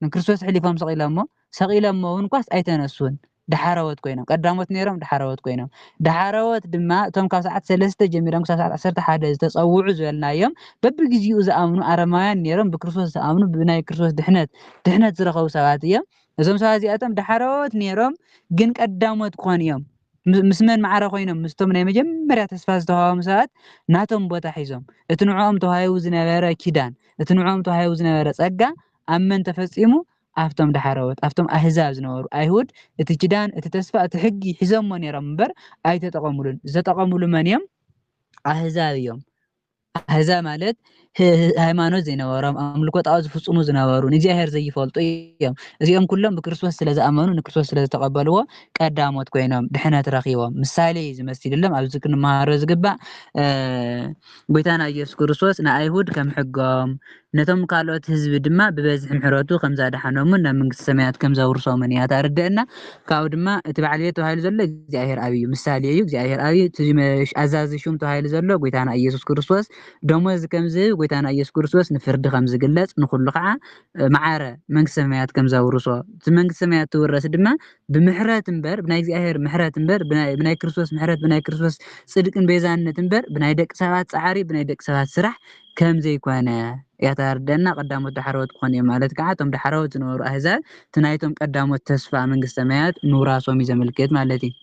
ንክርስቶስ ሕሊፎም ሰቒሎሞ፣ ሰቒሎሞ እውን እኳስ ኣይተነሱን። ዳሓረዎት ኮይኖም፣ ቀዳሞት ነይሮም ዳሓረዎት ኮይኖም። ዳሓረዎት ድማ እቶም ካብ ሰዓት ሰለስተ ጀሚሮም ክሳብ ሰዓት ዓሰርተ ሓደ ዝተጸውዑ ዝበልናዮም በብግዜኡ ዝኣምኑ ኣረማውያን ነይሮም፣ ብክርስቶስ ዝኣምኑ ብናይ ክርስቶስ ድሕነት ድሕነት ዝረኸቡ ሰባት እዮም። እዞም ሰባት እዚኣቶም ዳሕረዎት ነይሮም፣ ግን ቀዳሞት ክኾኑ እዮም። ምስ መን ማዕረ ኮይኖም? ምስቶም ናይ መጀመርያ ተስፋ ዝተዋህቦም ሰባት ናቶም ቦታ ሒዞም። እቲ ንዕኦም ተዋሂቡ ዝነበረ ኪዳን፣ እቲ ንዕኦም ተዋሂቡ ዝነበረ ጸጋ ኣብ መን ተፈጺሙ? ኣብቶም ዳሕረዎት፣ ኣብቶም ኣህዛብ ዝነበሩ። ኣይሁድ እቲ ኪዳን፣ እቲ ተስፋ፣ እቲ ሕጊ ሒዞሞ ነይሮም እምበር ኣይተጠቐሙሉን። ዝተጠቐሙሉ መን እዮም? ኣህዛብ እዮም። ኣህዛብ ማለት ሃይማኖት ዘይነበሮም፣ ኣምልኮ ጣዖት ዝፍጽሙ ዝነበሩ፣ ንእግዚኣብሔር ዘይፈልጡ እዮም። እዚኦም ኩሎም ብክርስቶስ ስለ ዝኣመኑ ንክርስቶስ ስለ ዝተቐበልዎ ቀዳሞት ኮይኖም ድሕነት ረኺቦም። ምሳሌ እዩ ዝመሲልሎም ኣብዚ ክንመሃሮ ዝግባእ ጎይታና ኢየሱስ ክርስቶስ ንኣይሁድ ከም ሕጎም ነቶም ካልኦት ህዝቢ ድማ ብበዝሒ ምሕረቱ ከም ዛድሓኖምን ናብ መንግስተ ሰማያት ከም ዘውርሶምን እያ ታርደእና ካብኡ ድማ እቲ በዓል ቤት ተባሂሉ ዘሎ እግዚኣብሔር ኣብ እዩ ምሳሌ እዩ እግዚኣብሔር ኣብ እዩ ትዚ ኣዛዚ ሹም ተባሂሉ ዘሎ ጎይታና ኢየሱስ ክርስቶስ ደሞዝ ከም ዝህብ ጎይታና ኢየሱስ ክርስቶስ ንፍርዲ ከም ዝግለጽ ንኩሉ ከዓ መዓረ መንግስተ ሰማያት ከም ዘውርሶ እቲ መንግስተ ሰማያት ትውረስ ድማ ብምሕረት እምበር ብናይ እግዚኣብሔር ምሕረት እምበር ብናይ ክርስቶስ ምሕረት ብናይ ክርስቶስ ጽድቅን ቤዛነት እምበር ብናይ ደቂ ሰባት ጻዕሪ ብናይ ደቂ ሰባት ስራሕ ከም ዘይኮነ እያ ተርደኣና ቀዳሞት ዳሕረዎት ክኾኑ እዮም ማለት ከኣ እቶም ዳሕረዎት ዝነበሩ ኣህዛብ እቲ ናይቶም ቀዳሞት ተስፋ መንግስተ ሰማያት ምውራሶም እዩ ዘመልክት ማለት እዩ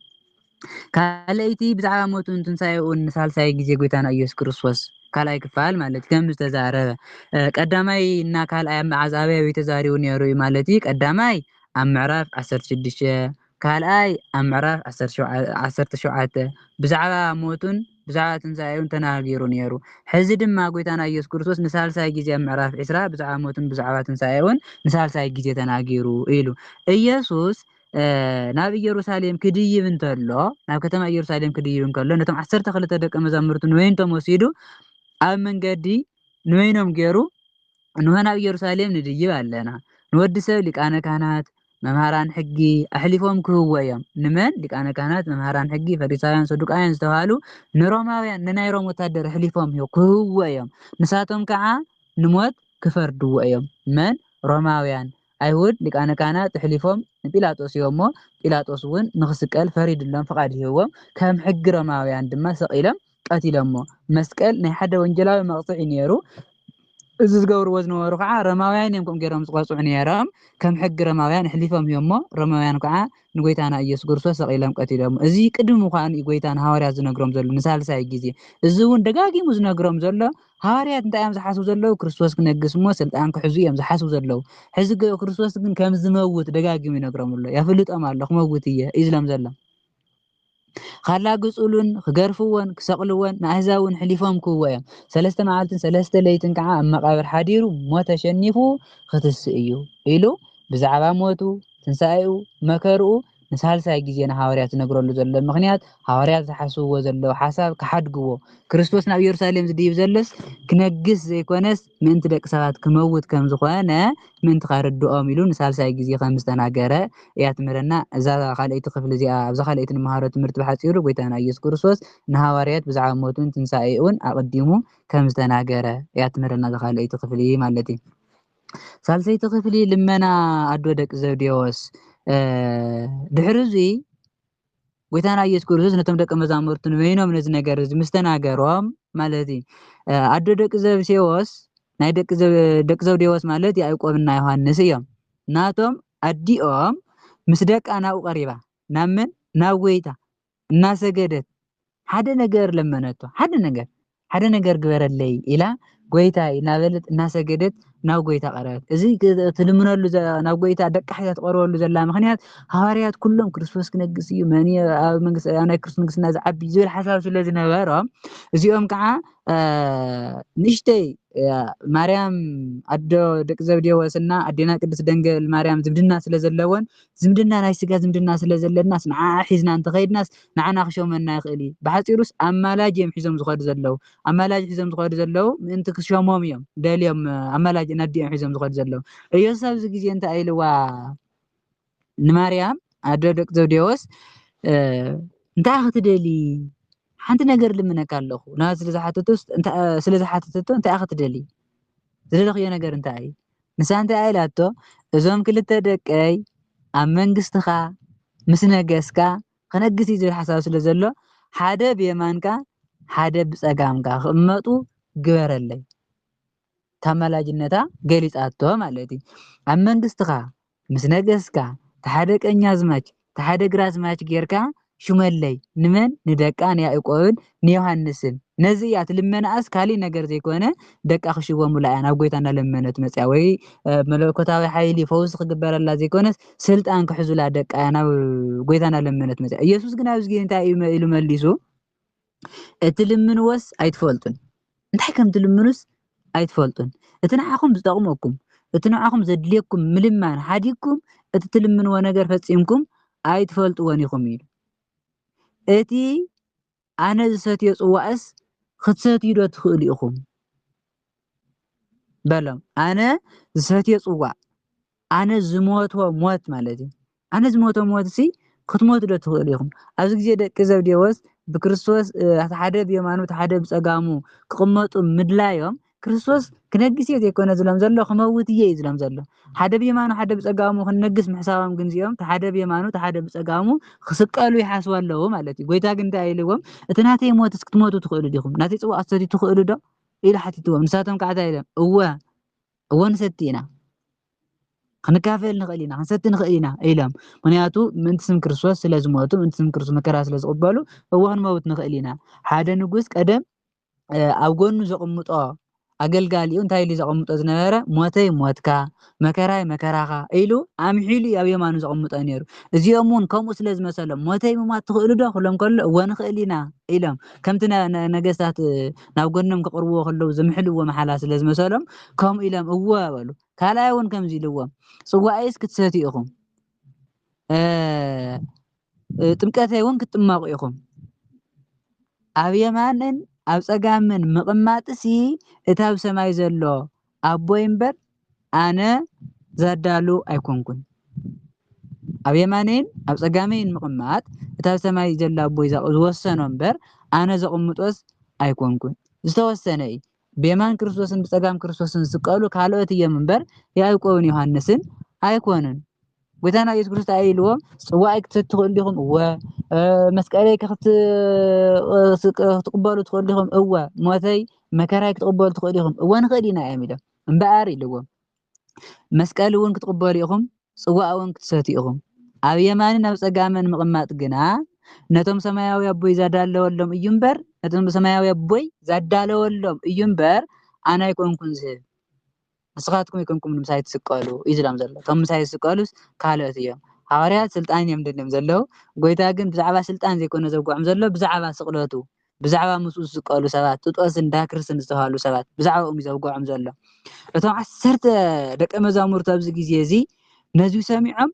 ካልኣይቲ ብዛዕባ ሞቱን ትንሳኤኡን ንሳልሳይ ግዜ ጎይታና ኢየሱስ ክርስቶስ ካልኣይ ክፋል ማለት ከም ዝተዛረበ ቀዳማይ እና ካልኣይ ኣብ መዓዝ ኣበይ ተዛሪቡ ነይሩ ማለት እዩ ቀዳማይ ኣብ ምዕራፍ 16 ካልኣይ ኣብ ምዕራፍ ዓሰርተ ሸውዓተ ብዛዕባ ሞቱን ብዛዕባ ትንሣኤውን ተናጊሩ ነይሩ። ሕዚ ድማ ጐይታና ኢየሱስ ክርስቶስ ንሳልሳይ ጊዜ ኣብ ምዕራፍ ዒስራ ብዛዕባ ሞቱን ብዛዕባ ትንሣኤውን ንሳልሳይ ጊዜ ተናጊሩ ኢሉ። ኢየሱስ ናብ ኢየሩሳሌም ክድይብ እንተሎ ናብ ከተማ ኢየሩሳሌም ክድይብ እንከሎ ነቶም ዓሰርተ ክልተ ደቀ መዛሙርቱ ንወይንቶም ወሲዱ ኣብ መንገዲ ንወይኖም ገይሩ እንሆ ናብ ኢየሩሳሌም ንድይብ ኣለና ንወዲ ሰብ ሊቃነ ካህናት መምህራን ሕጊ ኣሕሊፎም ክህብዎ እዮም። ንመን? ሊቃነ ካህናት፣ መምህራን ሕጊ፣ ፈሪሳውያን፣ ሰዱቃውያን ዝተብሃሉ ንሮማውያን ንናይ ሮም ወታደር ኣሕሊፎም ክህብዎ እዮም። ንሳቶም ከዓ ንሞት ክፈርድዎ እዮም። መን? ሮማውያን። ኣይሁድ ሊቃነ ካህናት ኣሕሊፎም ንጲላጦስ ሂቦሞ፣ ጲላጦስ እውን ንኽስቀል ፈሪድሎም ፍቓድ ሂብዎም፣ ከም ሕጊ ሮማውያን ድማ ሰቒሎም ቀቲሎሞ። መስቀል ናይ ሓደ ወንጀላዊ መቕጽዒ እዩ ነይሩ። እዚ ዝገብርዎ ዝነበሩ ከዓ ሮማውያን እዮም ከምኡ ገይሮም ዝቐጽዑ ነይሮም። ከም ሕጊ ሮማውያን ኣሕሊፎም ሂቦሞ። ሮማውያን ከዓ ንጎይታና ኢየሱስ ክርስቶስ ሰቒሎም ቀቲሎሞ። እዚ ቅድሚ ምዃኑ እዩ ጎይታ ንሃዋርያት ዝነግሮም ዘሎ ንሳልሳይ ግዜ። እዚ እውን ደጋጊሙ ዝነግሮም ዘሎ ሃዋርያት እንታይ እዮም ዝሓስቡ ዘለዉ? ክርስቶስ ክነግስ እሞ ስልጣን ክሕዙ እዮም ዝሓስቡ ዘለዉ። ሕዚ ክርስቶስ ግን ከም ዝመውት ደጋጊሙ ይነግሮም ኣሎ። የፍልጦም ኣሎ ክመውት እየ እዩ ዝብሎም ዘሎ። ኻላግጹሉን ኽገርፍዎን ክሰቕልዎን ንኣህዛብውን ሕሊፎም ክህብዎ እዮም። ሰለስተ መዓልትን ሰለስተ ለይትን ከዓ ኣብ መቓብር ሓዲሩ ሞት ኣሸኒፉ ኽትስእ እዩ ኢሉ ብዛዕባ ሞቱ፣ ትንሣኤኡ፣ መከርኡ ንሳልሳይ ጊዜ ንሃዋርያት ዝነግረሉ ዘሎ ምኽንያት ሃዋርያት ዝሓስብዎ ዘለዉ ሓሳብ ክሓድግዎ ክርስቶስ ናብ ኢየሩሳሌም ዝድይብ ዘሎስ ክነግስ ዘይኮነስ ምእንቲ ደቂ ሰባት ክመውት ከም ዝኾነ ምእንቲ ከርድኦም ኢሉ ንሳልሳይ ግዜ ከም ዝተናገረ እያ ትምህረና እዛ ካልኣይቲ ክፍሊ እዚኣ። ኣብዛ ካልኣይቲ ንመሃሮ ትምህርቲ ብሓጺሩ ጎይታና ኢየሱስ ክርስቶስ ንሃዋርያት ብዛዕባ ሞቱን ትንሳኤኡን ኣቐዲሙ ከም ዝተናገረ እያ ትምህረና እዛ ካልኣይቲ ክፍሊ ማለት እዩ። ሳልሰይቲ ክፍሊ ልመና ኣዶ ደቂ ዘብዴዎስ ድሕሪ እዙይ ጎይታና ኢየሱስ ክርስቶስ ነቶም ደቀ መዛሙርቱ ንበይኖም ነዚ ነገር እዚ ምስ ተናገሮም ማለት እዩ ኣዶ ደቂ ዘብሴዎስ ናይ ደቂ ዘብዴዎስ ማለት ያዕቆብና ዮሃንስ እዮም ናቶም ኣዲኦም ምስ ደቃ ናብኡ ቀሪባ ናብ መን ናብ ጎይታ እናሰገደት ሓደ ነገር ለመነቶ ሓደ ነገር ሓደ ነገር ግበረለይ ኢላ ጎይታይ እናበለት እናሰገደት ናብ ጎይታ ቀረበት። እዚ ትልምነሉ ናብ ጎይታ ደቃ ሒዛ ትቐርበሉ ዘላ ምክንያት ሃዋርያት ኩሎም ክርስቶስ ክነግስ እዩ መን ኣብ መንግስቲ ኣብ ናይ ክርስቶስ ንግስና ዝዓቢ ዝብል ሓሳብ ስለ ዝነበሮም እዚኦም ከዓ ንእሽተይ ማርያም ኣዶ ደቂ ዘብዴዎስ እና ኣዴና ቅድስት ደንገል ማርያም ዝምድና ስለ ዘለወን ዝምድና ናይ ስጋ ዝምድና ስለ ዘለናስ ንዓኣ ሒዝና እንተኸይድናስ ንዓና ክሾመና ይኽእል እዩ። ብሓጺሩስ ኣማላጅ እዮም ሒዞም ዝኸዱ ዘለዉ። ኣማላጅ ሒዞም ዝኸዱ ዘለዉ ምእንቲ ክሾሞም እዮም ደልዮም ኣማላጅ ነዲ እዮም ሒዞም ዝኸዱ ዘለዉ። ኢየሱስ ኣብዚ ግዜ እንታይ ኢልዋ ንማርያም ኣደ ደቂ ዘብዴዎስ እንታይ ክትደሊ ሓንቲ ነገር ልምነካ ኣለኹ ናት ስለዝሓተቶ ስለዝሓተተቶ እንታይ ክትደሊ ዝደለኽዮ ነገር እንታይ እዩ ንሳ እንታይ ኢላቶ እዞም ክልተ ደቀይ ኣብ መንግስትኻ ምስ ነገስካ ክነግስ እዩ ዝብል ሓሳብ ስለ ዘሎ ሓደ ብየማንካ ሓደ ብጸጋምካ ክቕመጡ ግበረለይ ታማላጅነታ ገሊጻቶ ማለት እዩ ኣብ መንግስትኻ ምስ ነገስካ ተሓደ ቀኛዝማች ተሓደ ግራዝማች ጌርካ ሹመለይ ንመን ንደቃ ንያእቆብን ንዮሃንስን ነዚ እያ ትልመናኣስ ካሊእ ነገር ዘይኮነ ደቃ ክሽወሙላ እያ ናብ ጎይታ እናለመነት መፅያ ወይ መለኮታዊ ሓይሊ ፈውሲ ክግበረላ ዘይኮነስ ስልጣን ክሕዙላ ደቃ እያ ናብ ጎይታ እናለመነት መፅያ ኢየሱስ ግን ኣብዚ ግዜ እንታይ እዩ ኢሉ መሊሱ እትልምንዎስ ኣይትፈልጡን እንታይ ከም ትልምኑስ ኣይትፈልጡን እቲ ንዓኹም ዝጠቕመኩም እቲ ንዓኹም ዘድልየኩም ምልማን ሓዲግኩም እቲ ትልምንዎ ነገር ፈፂምኩም ኣይትፈልጥዎን ኢኹም ኢሉ እቲ ኣነ ዝሰትዮ ፅዋእስ ክትሰትዩ ዶ ትኽእሉ ኢኹም በሎም ኣነ ዝሰትዮ ፅዋእ ኣነ ዝሞትወ ሞት ማለት እዩ። ኣነ ዝሞትወ ሞት ሲ ክትሞቱ ዶ ትኽእሉ ኢኹም? ኣብዚ ግዜ ደቂ ዘብዴዎስ ብክርስቶስ እቲ ሓደ ብየማኑ እቲ ሓደ ብጸጋሙ ክቕመጡ ምድላዮም ክርስቶስ ክነግስ እየ ዘይኮነ ዝሎም ዘሎ ክመውት እየ እዩ ዝሎም ዘሎ። ሓደ ብየማኑ ሓደ ብጸጋሙ ክንነግስ ምሕሳቦም ግን እዚኦም እቲ ሓደ ብየማኑ እቲ ሓደ ብጸጋሙ ክስቀሉ ይሓስቡ ኣለዉ ማለት እዩ። ጎይታ ግን እንታይ ኢልዎም? እቲ ናተይ ሞትስ ክትሞቱ ትኽእሉ ዲኹም? ናተይ ጽዋእ ክትሰትዩ ትኽእሉ ዶ? ኢሉ ሓቲትዎም። ንሳቶም ከዓ እንታይ ኢሎም? እወ እወ ንሰቲ ኢና ክንካፈል ንኽእል ኢና ክንሰቲ ንኽእል ኢና ኢሎም ምክንያቱ ምእንቲ ስም ክርስቶስ ስለ ዝሞቱ ምእንቲ ስም ክርስቶስ መከራ ስለ ዝቕበሉ እወ ክንመውት ንኽእል ኢና ሓደ ንጉስ ቀደም ኣብ ጎኑ ዘቕምጦ ኣገልጋሊኡ እንታይ ኢሉ ዘቐምጦ ዝነበረ ሞተይ ሞትካ መከራይ መከራኻ ኢሉ ኣምሒሉ ኣብ የማኑ ዘቐምጦ ነይሩ እዚኦም እውን ከምኡ ስለ ዝመሰሎም ሞተይ ምሟት ትኽእሉ ዶ ክብሎም ከሎ እወ ንኽእል ኢና ኢሎም ከምቲ ነገስታት ናብ ጎኖም ከቕርብዎ ከለዉ ዝምሕልዎ መሓላ ስለ ዝመሰሎም ከምኡ ኢሎም እወ በሉ። ካልኣይ እውን ከምዚ ኢልዎም ጽዋኣይስ ክትሰትዩ ኢኹም፣ ጥምቀተይ እውን ክትጥመቑ ኢኹም። ኣብ የማንን ኣብ ጸጋምን ምቕማጥሲ እታ ኣብ ሰማይ ዘሎ ኣቦይ እምበር ኣነ ዛዳሉ ኣይኮንኩን። ኣብ የማነይን ኣብ ጸጋመይን ምቕማጥ እቲ ኣብ ሰማይ ዘሎ ኣቦይ ዝወሰኖ እምበር ኣነ ዘቕምጦስ ኣይኮንኩን። ዝተወሰነ እዩ። ብየማን ክርስቶስን ብጸጋም ክርስቶስን ዝስቀሉ ካልኦት እዮም እምበር ያእቆብን ዮሃንስን ኣይኮኑን። ጎይታና ኢየሱስ ክርስቶስ እንታይ ኢልዎ ጽዋዕይ ክትሰቲ ትኽእሉ ዲኹም እወ መስቀለይ ክትቕበሉ ትኽእሉ ዲኹም እወ ሞተይ መከራይ ክትቕበሉ ትኽእሉ ኢኹም እወ ንኽእል ኢና እዮም ኢሎም እምበኣር ኢልዎም መስቀል እውን ክትቕበሉ ኢኹም ጽዋዕ እውን ክትሰቲ ኢኹም ኣብ የማንን ኣብ ጸጋምን ምቕማጥ ግና ነቶም ሰማያዊ ኣቦይ ዛዳለወሎም እዩ እምበር ነቶም ሰማያዊ ኣቦይ ዛዳለወሎም እዩ እምበር ኣነ ኣይኮንኩን ዝህብ ንስኻትኩም ኣይኮንኩምን ምሳይ ትስቀሉ እዩ ዝብሎም ዘሎ። እቶም ምሳይ ዝስቀሉስ ካልኦት እዮም። ሃዋርያት ስልጣን እዮም ደልዮም ዘለዉ፣ ጐይታ ግን ብዛዕባ ስልጣን ዘይኮነ ዘውግዖም ዘሎ ብዛዕባ ስቕለቱ፣ ብዛዕባ ምስኡ ዝስቀሉ ሰባት፣ ጥጦስን ዳክርስን ዝተባህሉ ሰባት ብዛዕባኦም እዩ ዘውግዖም ዘሎ። እቶም ዓሰርተ ደቀ መዛሙርቱ ኣብዚ ግዜ እዚ ነዚ ሰሚዖም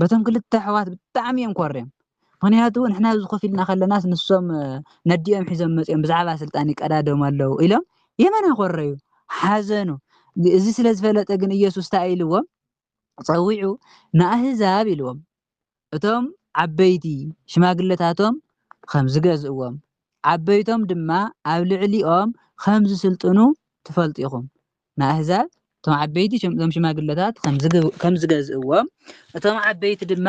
በቶም ክልተ ኣሕዋት ብጣዕሚ እዮም ኮርዮም ምክንያቱ ንሕና ኣብዚ ኮፍ ኢልና ከለናስ ንሶም ነዲኦም ሒዞም መፅኦም ብዛዕባ ስልጣን ይቀዳደሙ ኣለዉ ኢሎም የመና ኮረዩ ሓዘኑ እዚ ስለ ዝፈለጠ ግን ኢየሱስ እንታይ ኢልዎም ፀዊዑ ንኣህዛብ ኢልዎም እቶም ዓበይቲ ሽማግለታቶም ከም ዝገዝእዎም ዓበይቶም ድማ ኣብ ልዕሊኦም ከም ዝስልጥኑ ትፈልጡ ኢኹም ንኣህዛብ እቶም ዓበይቲ እዞም ሽማግለታት ከም ዝገዝእዎም እቶም ዓበይቲ ድማ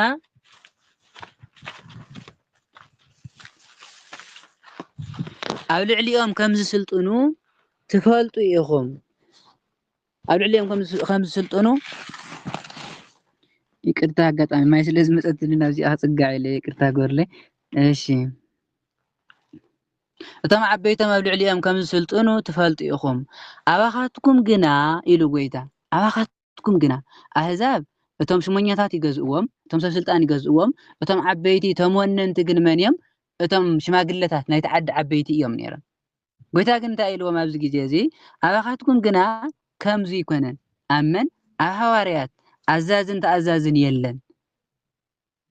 ኣብ ልዕሊኦም ከም ዝስልጥኑ ትፈልጡ ኢኹም ኣብ ልዕሊኦም ከም ዝስልጥኑ ይቅርታ ኣጋጣሚ ማይ ስለ ዝመፀትኒ ናብዚኣ ክፅጋዕ ኢለ ይቅርታ ግበርለይ እሺ እቶም ዓበይቶም ኣብ ልዕሊኦም ከም ዝስልጥኑ ትፈልጡ ኢኹም። ኣባኻትኩም ግና፣ ኢሉ ጐይታ፣ ኣባኻትኩም ግና፣ ኣህዛብ እቶም ሽሞኛታት ይገዝእዎም፣ እቶም ሰብ ስልጣን ይገዝእዎም፣ እቶም ዓበይቲ፣ እቶም ወነንቲ ግን መን እዮም? እቶም ሽማግለታት ናይቲ ዓዲ ዓበይቲ እዮም ነይሮም። ጐይታ ግን እንታይ ኢልዎም ኣብዚ ግዜ እዚ? ኣባኻትኩም ግና ከምዚ ኣይኰነን። ኣብ መን? ኣብ ሃዋርያት ኣዛዝን ተኣዛዝን የለን።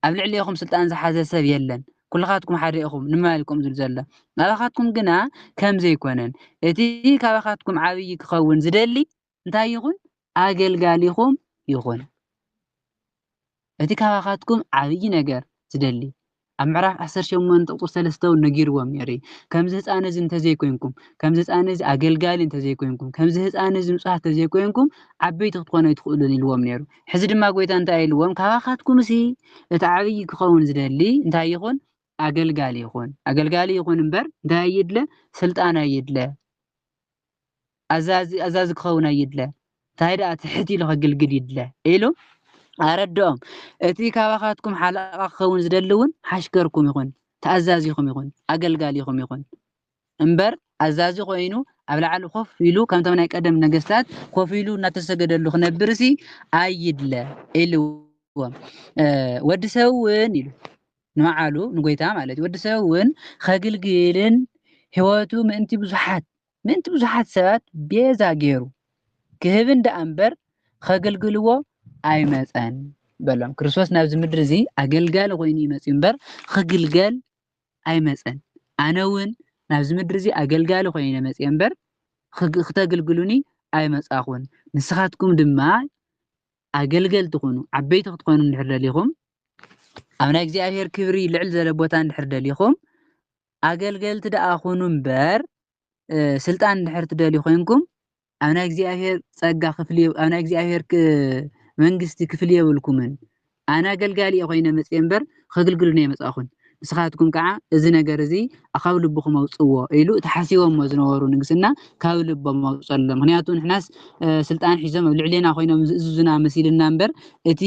ኣብ ልዕሌኹም ስልጣን ዝሓዘ ሰብ የለን፣ ኵልኻትኩም ሓደ ኢኹም፣ ንምባል እዩ ከምኡ ዝብል ዘሎ። ኣባኻትኩም ግና ከም ዘይኰነን፣ እቲ ካባኻትኩም ዓብዪ ኪኸውን ዚደሊ እንታይ ይኹን? ኣገልጋሊኹም ይኹን። እቲ ካባኻትኩም ዓብዪ ነገር ዚደሊ ኣብ ምዕራፍ ዓሰርተ ሸሞንተ ቁፅሪ ሰለስተ እውን ነጊርዎም ነይሩ እዩ ከምዚ ህፃን እዚ እንተዘይኮይንኩም ከምዚ ህፃን እዚ ኣገልጋሊ እንተዘይኮይንኩም ከምዚ ህፃን እዚ ንፁሃት እንተዘይኮይንኩም ዓበይቲ ክትኾኑ ኣይትኽእሉን ኢልዎም ነይሩ ሕዚ ድማ ጐይታ እንታይ ኢልዎም? ካባኻትኩምሲ እቲ ዓብዪ ኪኸውን ዚደሊ እንታይ ይኹን? ኣገልጋሊ ይኹን። ኣገልጋሊ ይኹን እምበር እንታይ ኣይድለ? ስልጣን ኣይድለ። ኣዛዚ ኣዛዚ ክኸውን ኣይድለ እንታይ ደኣ ትሕት ኢሉ ከግልግል ይድለ ኢሉ ኣረድኦም እቲ ካባኻትኩም ሓለቓ ክኸውን ዝደሊ እውን ሓሽከርኩም ይኹን ተኣዛዚኹም ይኹን ኣገልጋሊኹም ይኹን እምበር ኣዛዚ ኮይኑ ኣብ ላዕሊ ኮፍ ኢሉ ከምቶም ናይ ቀደም ነገስታት ኮፍ ኢሉ እናተሰገደሉ ክነብርሲ ኣይድለ ኢልዎም ወዲ ሰብ እውን ኢሉ ንበዓሉ ንጎይታ ማለት እዩ ወዲ ሰብ እውን ከግልግልን ህይወቱ ምእንቲ ብዙሓት ምእንቲ ብዙሓት ሰባት ቤዛ ገይሩ ክህብን ደኣ እምበር ከገልግልዎ ኣይመፀን በሎም ክርስቶስ ናብዚ ምድሪ እዚ ኣገልጋሊ ኮይኑ ይመፅእ እምበር ክግልገል ኣይመጸን ኣነ ውን ናብዚ ምድሪ እዚ ኣገልጋሊ ኮይነ መጽየ እምበር ክተግልግሉኒ ኣይመጻኹን ንስኻትኩም ድማ ኣገልገልቲ ኩኑ ዓበይቲ ክትኮኑ እንድሕር ደሊኹም ኣብ ናይ እግዚኣብሔር ክብሪ ልዕል ዘለ ቦታ እንድሕር ደሊኹም ኣገልገልቲ ደኣ ኩኑ እምበር ስልጣን እንድሕር ትደልዩ ኮይንኩም ኣብ ናይ እግዚኣብሔር ጸጋ ክፍሊ ኣብ ናይ እግዚኣብሔር መንግስቲ ክፍሊ የብልኩምን ኣነ ኣገልጋሊ እየ ኮይነ መጽየ እምበር ከግልግሉ ነይ መጻኹን ንስኻትኩም ከዓ እዚ ነገር እዚ ካብ ልብኹም ኣውፅዎ ኢሉ እቲ ሓሲቦሞ ዝነበሩ ንግስና ካብ ልቦም ኣውፀሎም ምክንያቱ ንሕናስ ስልጣን ሒዞም ኣብ ልዕሌና ኮይኖም ዝእዝዙና መሲልና እምበር እቲ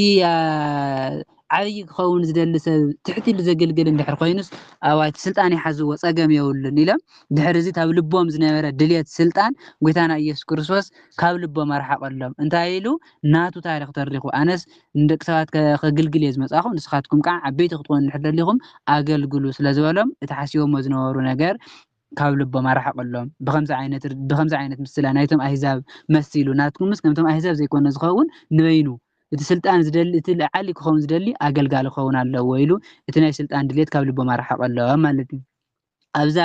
ዓብይ ክኸውን ዝደሊ ሰብ ትሕት ኢሉ ዘግልግል እንድሕር ኮይኑስ ኣዋጅ ስልጣን ይሓዝዎ ፀገም የብሉን ኢሎም ድሕሪ እዚ ኣብ ልቦም ዝነበረ ድልየት ስልጣን ጎይታና ኢየሱስ ክርስቶስ ካብ ልቦም ኣርሓቐሎም እንታይ ኢሉ ናቱ ታሪኽ ተሪኹ ኣነስ ንደቂ ሰባት ከግልግል እየ ዝመፃኹ ንስኻትኩም ከዓ ዓበይቲ ክትኾኑ እንድሕር ደሊኹም ኣገልግሉ ስለዝበሎም እቲ ሓሲቦሞ ዝነበሩ ነገር ካብ ልቦም ኣርሓቕሎም። ብኸምዚ ዓይነት ብኸምዚ ዓይነት ምስላ ናይቶም ኣህዛብ መሲሉ ናትኩምስ ከምቶም ኣህዛብ ዘይኮነ ዝኸውን ንበይኑ እቲ ስልጣን ዝደሊ እቲ ለዓሊ ክኸውን ዝደሊ ኣገልጋሊ ክኸውን ኣለዎ ኢሉ እቲ ናይ ስልጣን ድሌት ካብ ልቦም ኣርሓቐሎም ማለት እዩ። ኣብዛ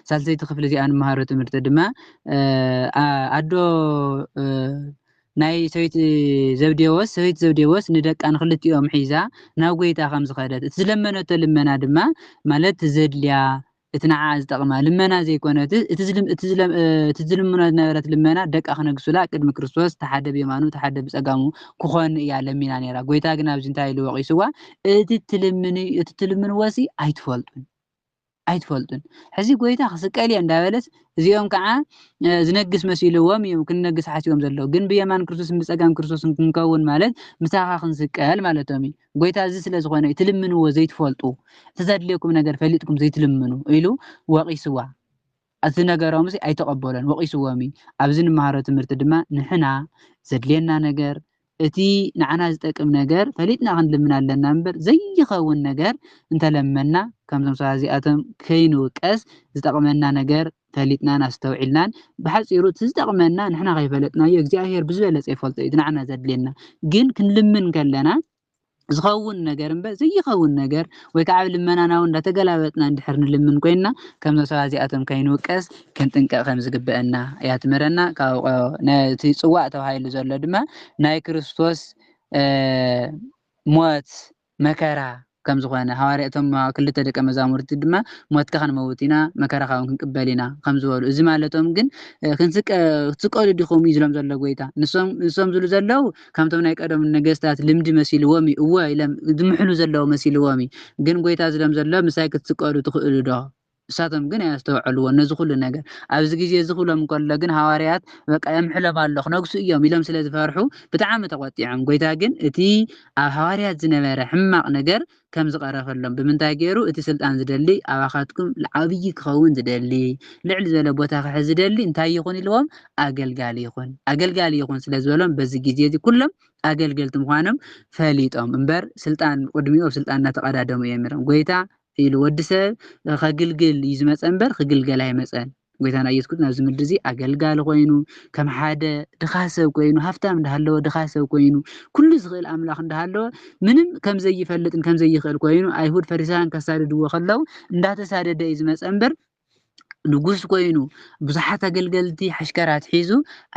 ሳልሰይቲ ክፍሊ እዚኣ ንመሃሮ ትምህርቲ ድማ ኣዶ ናይ ሰበይቲ ዘብዴዎስ ሰበይቲ ዘብዴዎስ ንደቃ ንክልቲኦም ሒዛ ናብ ጎይታ ከም ዝኸደት እቲ ዝለመነቶ ልመና ድማ ማለት ዘድልያ እቲ ንዓኣ ዝጠቕማ ልመና ዘይኮነ፣ እቲ ዝልምኖ ዝነበረት ልመና ደቃ ክነግሱላ ቅድሚ ክርስቶስ ተሓደ ብየማኑ ተሓደ ብጸጋሙ ክኾኑ እያ ለሚና ነይራ። ጎይታ ግን ኣብዚ እንታይ ኢሉ ወቒስዋ እቲ ትልምንዎሲ ኣይትፈልጡን ኣይትፈልጡን። ሕዚ ጎይታ ክስቀል እየ እንዳበለስ እዚኦም ከኣ ዝነግስ መሲልዎም እዮም ክንነግስ ሓሲቦም ዘለዉ። ግን ብየማን ክርስቶስን ብጸጋም ክርስቶስን ክንከውን ማለት ምሳኻ ክንስቀል ማለቶም እዩ። ጐይታ እዚ ስለ ዝኾነ እዩ ትልምንዎ ዘይትፈልጡ፣ እቲ ዘድልየኩም ነገር ፈሊጥኩም ዘይትልምኑ ኢሉ ወቒስዋ። እቲ ነገሮምሲ ኣይተቐበሎን፣ ወቒስዎም እዩ። ኣብዚ ንመሃሮ ትምህርቲ ድማ ንሕና ዘድልየና ነገር እቲ ንዓና ዝጠቅም ነገር ፈሊጥና ክንልምን ኣለና እምበር ዘይኸውን ነገር እንተለመና ከምዞም ሰባት እዚኣቶም ከይንውቀስ ዝጠቕመና ነገር ፈሊጥናን ኣስተውዒልናን ብሓጺሩ እቲ ዝጠቅመና ንሕና ከይፈለጥናዮ እግዚኣብሄር ብዝበለጸ ይፈልጦ እዩ እቲ ንዓና ዘድልየና ግን ክንልምን ከለና ዝኸውን ነገር እምበር ዘይኸውን ነገር ወይ ከዓ ኣብ ልመናና እውን እንዳተገላበጥና እንድሕር ንልምን ኮይንና ከምዞም ሰባት እዚኣቶም ከይንውቀስ ክንጥንቀቕ ከም ዝግበአና እያ ትምህረና ካብ እቲ ጽዋእ ተባሂሉ ዘሎ ድማ ናይ ክርስቶስ ሞት መከራ ከም ዝዀነ፣ ሃዋርያ እቶም ክልተ ደቀ መዛሙርቲ ድማ ሞትካ ክንመውት ኢና፣ መከራኻውን ክንቅበል ኢና ኸም ዝበሉ እዚ ማለቶም ግን ክትስቀሉ ዲኹም እዩ ዝሎም ዘሎ ጐይታ። ንሶም ዝብሉ ዘለዉ ከምቶም ናይ ቀደሙ ነገስታት ልምዲ መሲልዎም እዩ እወ ኢሎም ዝምሕሉ ዘለዉ መሲልዎም እዩ ግን ጐይታ ዝሎም ዘሎ ምሳይ ክትስቀሉ ትኽእሉ ዶ? ንሳቶም ግን ኣየስተውዐልዎን ነዚ ዅሉ ነገር። ኣብዚ ግዜ እዚ ኽብሎም እንከሎ ግን ሃዋርያት በቃ የምሕሎም ኣሎ ኽነግሱ እዮም ኢሎም ስለ ዝፈርሑ ብጣዕሚ ተቖጢዖም። ጐይታ ግን እቲ ኣብ ሃዋርያት ዝነበረ ሕማቕ ነገር ከም ዝቐረፈሎም ብምንታይ ገይሩ እቲ ስልጣን ዝደሊ ኣባኻትኩም ዓብዪ ክኸውን ዝደሊ ልዕል ዝበለ ቦታ ክሕዝ ዝደሊ እንታይ ይኹን ኢልዎም ኣገልጋሊ ይኹን ኣገልጋሊ ይኹን ስለ ዝበሎም በዚ ግዜ እዚ ኵሎም ኣገልገልቲ ምዃኖም ፈሊጦም እምበር ስልጣን ቅድሚኡ ኣብ ስልጣን እናተቐዳደሙ እዮም ነይሮም ጐይታ ኢሉ ወዲ ሰብ ከግልግል እዩ ዝመጸ እምበር ክግልገል ኣይመጸን። ጎይታና ኢየሱስ ክርስቶስ ናብዚ ምድሪ እዚ ኣገልጋሊ ኮይኑ ከም ሓደ ድኻ ሰብ ኮይኑ ሃብታም እንዳሃለወ ድኻ ሰብ ኮይኑ ኩሉ ዝኽእል ኣምላኽ እንዳሃለወ ምንም ከም ዘይፈልጥን ከም ዘይኽእል ኮይኑ ኣይሁድ ፈሪሳውያን ከሳድድዎ ከለው እንዳተሳደደ እዩ ዝመጸ እምበር ንጉስ ኰይኑ፣ ብዙሓት ኣገልገልቲ ሓሽከራት ሒዙ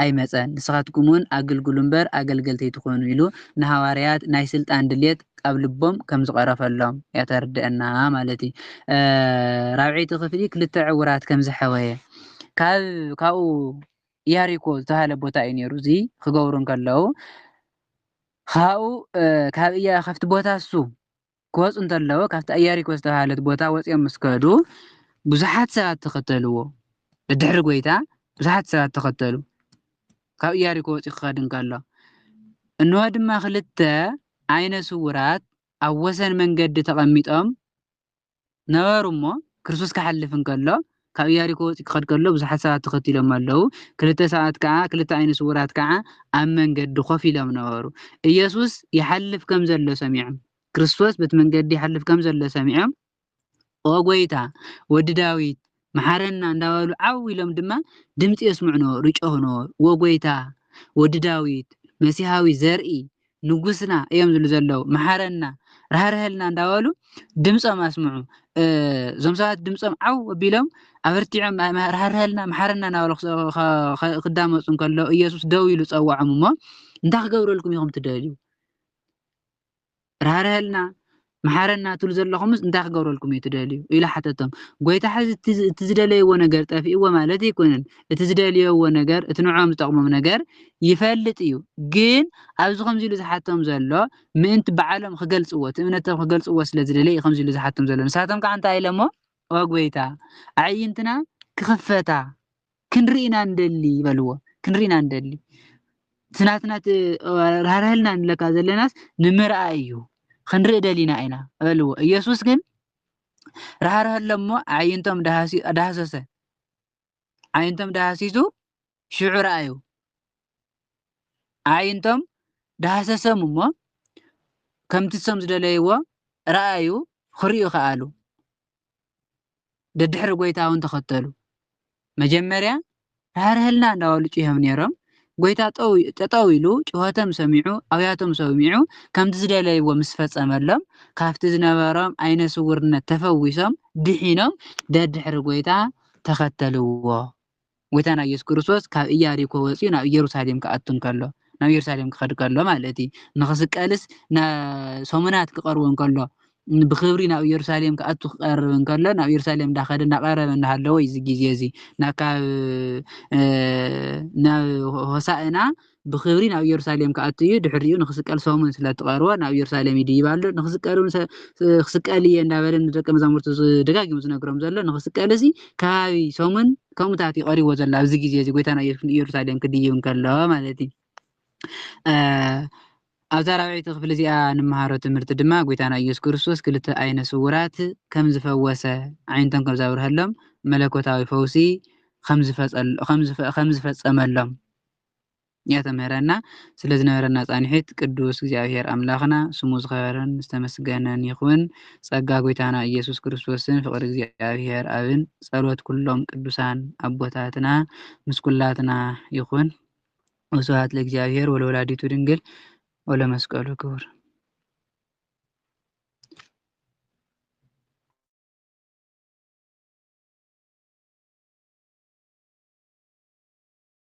ኣይመጸን። ንስኻትኩምውን ኣገልግሉ እምበር፣ ኣገልገልቲ ኣይትኹኑ ኢሉ ንሃዋርያት ናይ ስልጣን ድሌት ኣብ ልቦም ከም ዝቐረፈሎም እያ እተርድኣና ማለት እዩ። ራብዐይቲ ክፍሊ ክልተ ዕውራት ከም ዘሕወየ ካብ ካብኡ ኢያሪኮ ዝተባህለ ቦታ እዩ ነይሩ እዚ ክገብሩ እንከለዉ ካብኡ ካብ እያ ካብቲ ቦታ እሱ ክወፁ እንተለዉ ካብታ እያሪኮ ዝተባህለት ቦታ ወፂኦም ምስ ከዱ ብዙሓት ሰባት ተኸተልዎ ብድሕሪ ጎይታ ብዙሓት ሰባት ተኸተሉ ካብ እያሪኮ ወፂኡ ክኸድ እንከሎ እንሆ ድማ ክልተ ዓይነ ስውራት ኣብ ወሰን መንገዲ ተቐሚጦም ነበሩ እሞ፣ ክርስቶስ ኪሓልፍ እንከሎ፣ ካብ ኢያሪኮ ወጺኡ ኪኸድ ከሎ፣ ብዙሓት ሰባት ተኸቲሎሞ ኣለዉ። ክልተ ሰባት ከኣ፣ ክልተ ኣይነ ስዉራት ከኣ ኣብ መንገዲ ኮፍ ኢሎም ነበሩ። ኢየሱስ ይሓልፍ ከም ዘሎ ሰሚዖም። ክርስቶስ በቲ መንገዲ ይሓልፍ ከም ዘሎ ሰሚዖም፣ ኦ ጐይታ፣ ወዲ ዳዊት፣ መሓረና እንዳበሉ ዓው ኢሎም ድማ ድምጺ የስምዑኖ ርጮኽኖ ዎጎይታ ወዲ ዳዊት መሲሃዊ ዘርኢ ንጉስና እዮም ዝብሉ ዘለው መሓረና ራህርሀልና እንዳበሉ ድምጾም ኣስምዑ እዞም ሰባት ድምጾም ዓው ኣቢሎም ኣበርቲዖም ራህርሀልና መሓረና እናበሉ ክዳመጹ እንከለው ኢየሱስ ደው ኢሉ ጸዋዖም እሞ እንታይ ክገብረልኩም ኢኹም ትደልዩ ራህርሀልና መሓረና ትብሉ ዘለኹምስ እንታይ ክገብረልኩም እዩ ትደልዩ ኢሉ ሓተቶም ጎይታ ሕዚ እቲ ዝደለይዎ ነገር ጠፊእዎ ማለት ኣይኮነን እቲ ዝደልየዎ ነገር እቲ ንዕኦም ዝጠቕሞም ነገር ይፈልጥ እዩ ግን ኣብዚ ከምዚ ኢሉ ዝሓቶም ዘሎ ምእንቲ በዓሎም ክገልፅዎ እቲ እምነቶም ክገልፅዎ ስለ ዝደለየ እዩ ከምዚ ኢሉ ዝሓቶም ዘሎ ንሳቶም ከዓ እንታይ ኢሎሞ ኦ ጎይታ ኣዕይንትና ክኽፈታ ክንርኢ ኢና ንደሊ በልዎ ክንርኢ ኢና ንደሊ እቲ ናትና ራህርህልና ንለካ ዘለናስ ንምርኣይ እዩ ክንርኢ ደሊና ኢና በልዎ ኢየሱስ ግን ራህርህሎ እሞ ኣዕይንቶም ዳህሰሰ ዓይንቶም ዳህሲሱ ሽዑ ረኣዩ ኣዕይንቶም ዳህሰሰም እሞ ከምቲ ሰም ዝደለይዎ ረኣዩ ክርእዩ ከኣሉ ደድሕሪ ጎይታ እውን ተኸተሉ። መጀመርያ ራህርሀልና እንዳበሉ ጩሆም ነይሮም። ጎይታ ጠጠው ኢሉ ጩኸቶም ሰሚዑ ኣብያቶም ሰሚዑ ከምቲ ዝደለይዎ ምስ ፈጸመሎም ካብቲ ዝነበሮም ዓይነ ስውርነት ተፈዊሶም ድሒኖም ደድሕሪ ጎይታ ተኸተልዎ። ጎይታና ኢየሱስ ክርስቶስ ካብ ኢያሪኮ ወጺኡ ናብ ኢየሩሳሌም ክኣቱ እንከሎ ናብ ኢየሩሳሌም ክኸድ ከሎ ማለት እዩ ንክስቀልስ ሰሙናት ክቐርቦ እንከሎ ብክብሪ ናብ ኢየሩሳሌም ክኣቱ ክቀርብ እንከሎ ናብ ኢየሩሳሌም እንዳኸደ እናቐረበ እናሃለወ እዩ እዚ ግዜ እዚ ናብ ሆሳእና ብኽብሪ ናብ ኢየሩሳሌም ክኣቱ እዩ፣ ድሕሪኡ ንኽስቀል ሰሙን ስለ እትቐርቦ ናብ ኢየሩሳሌም ይድይብ ኣሎ፣ ንኽስቀልውን ሰ- ስ- ክስቀል እየ እንዳበለ ንደቀ መዛሙርቱ ዝ- ደጋጊሙ ዝነግሮም ዘሎ፣ ንኽስቀልሲ ከባቢ ሰሙን ከምኡታት እዩ ቀሪብዎ ዘሎ፣ ኣብዚ ግዜ እዚ ጎይታና ኢየሱስ ንኢየሩሳሌም ክድይብ እንከሎ ማለት እዩ። አ- ኣብዛ ራብዐይቲ ክፍሊ እዚኣ ንመሃሮ ትምህርቲ ድማ ጎይታና ኢየሱስ ክርስቶስ ክልተ ዓይነ ስውራት ከም ዝፈወሰ ዓይነቶም ከም ዘብርሀሎም መለኮታዊ ፈውሲ ከም ዝፈጸል- ከም ዝፈ- ከም ዝፈጸመሎም ያተምህረና ስለ ዝነበረና ጻኒሒት ቅዱስ እግዚኣብሔር ኣምላክና ስሙ ዝከበረን ዝተመስገነን ይኩን ጸጋ ጎይታና እየሱስ ክርስቶስን ፍቅሪ እግዚኣብሔር ኣብን ጸሎት ኩሎም ቅዱሳን ኣቦታትና ምስ ኩላትና ይኩን ወስብሃት ለእግዚኣብሔር ወለወላዲቱ ድንግል ወለመስቀሉ ክቡር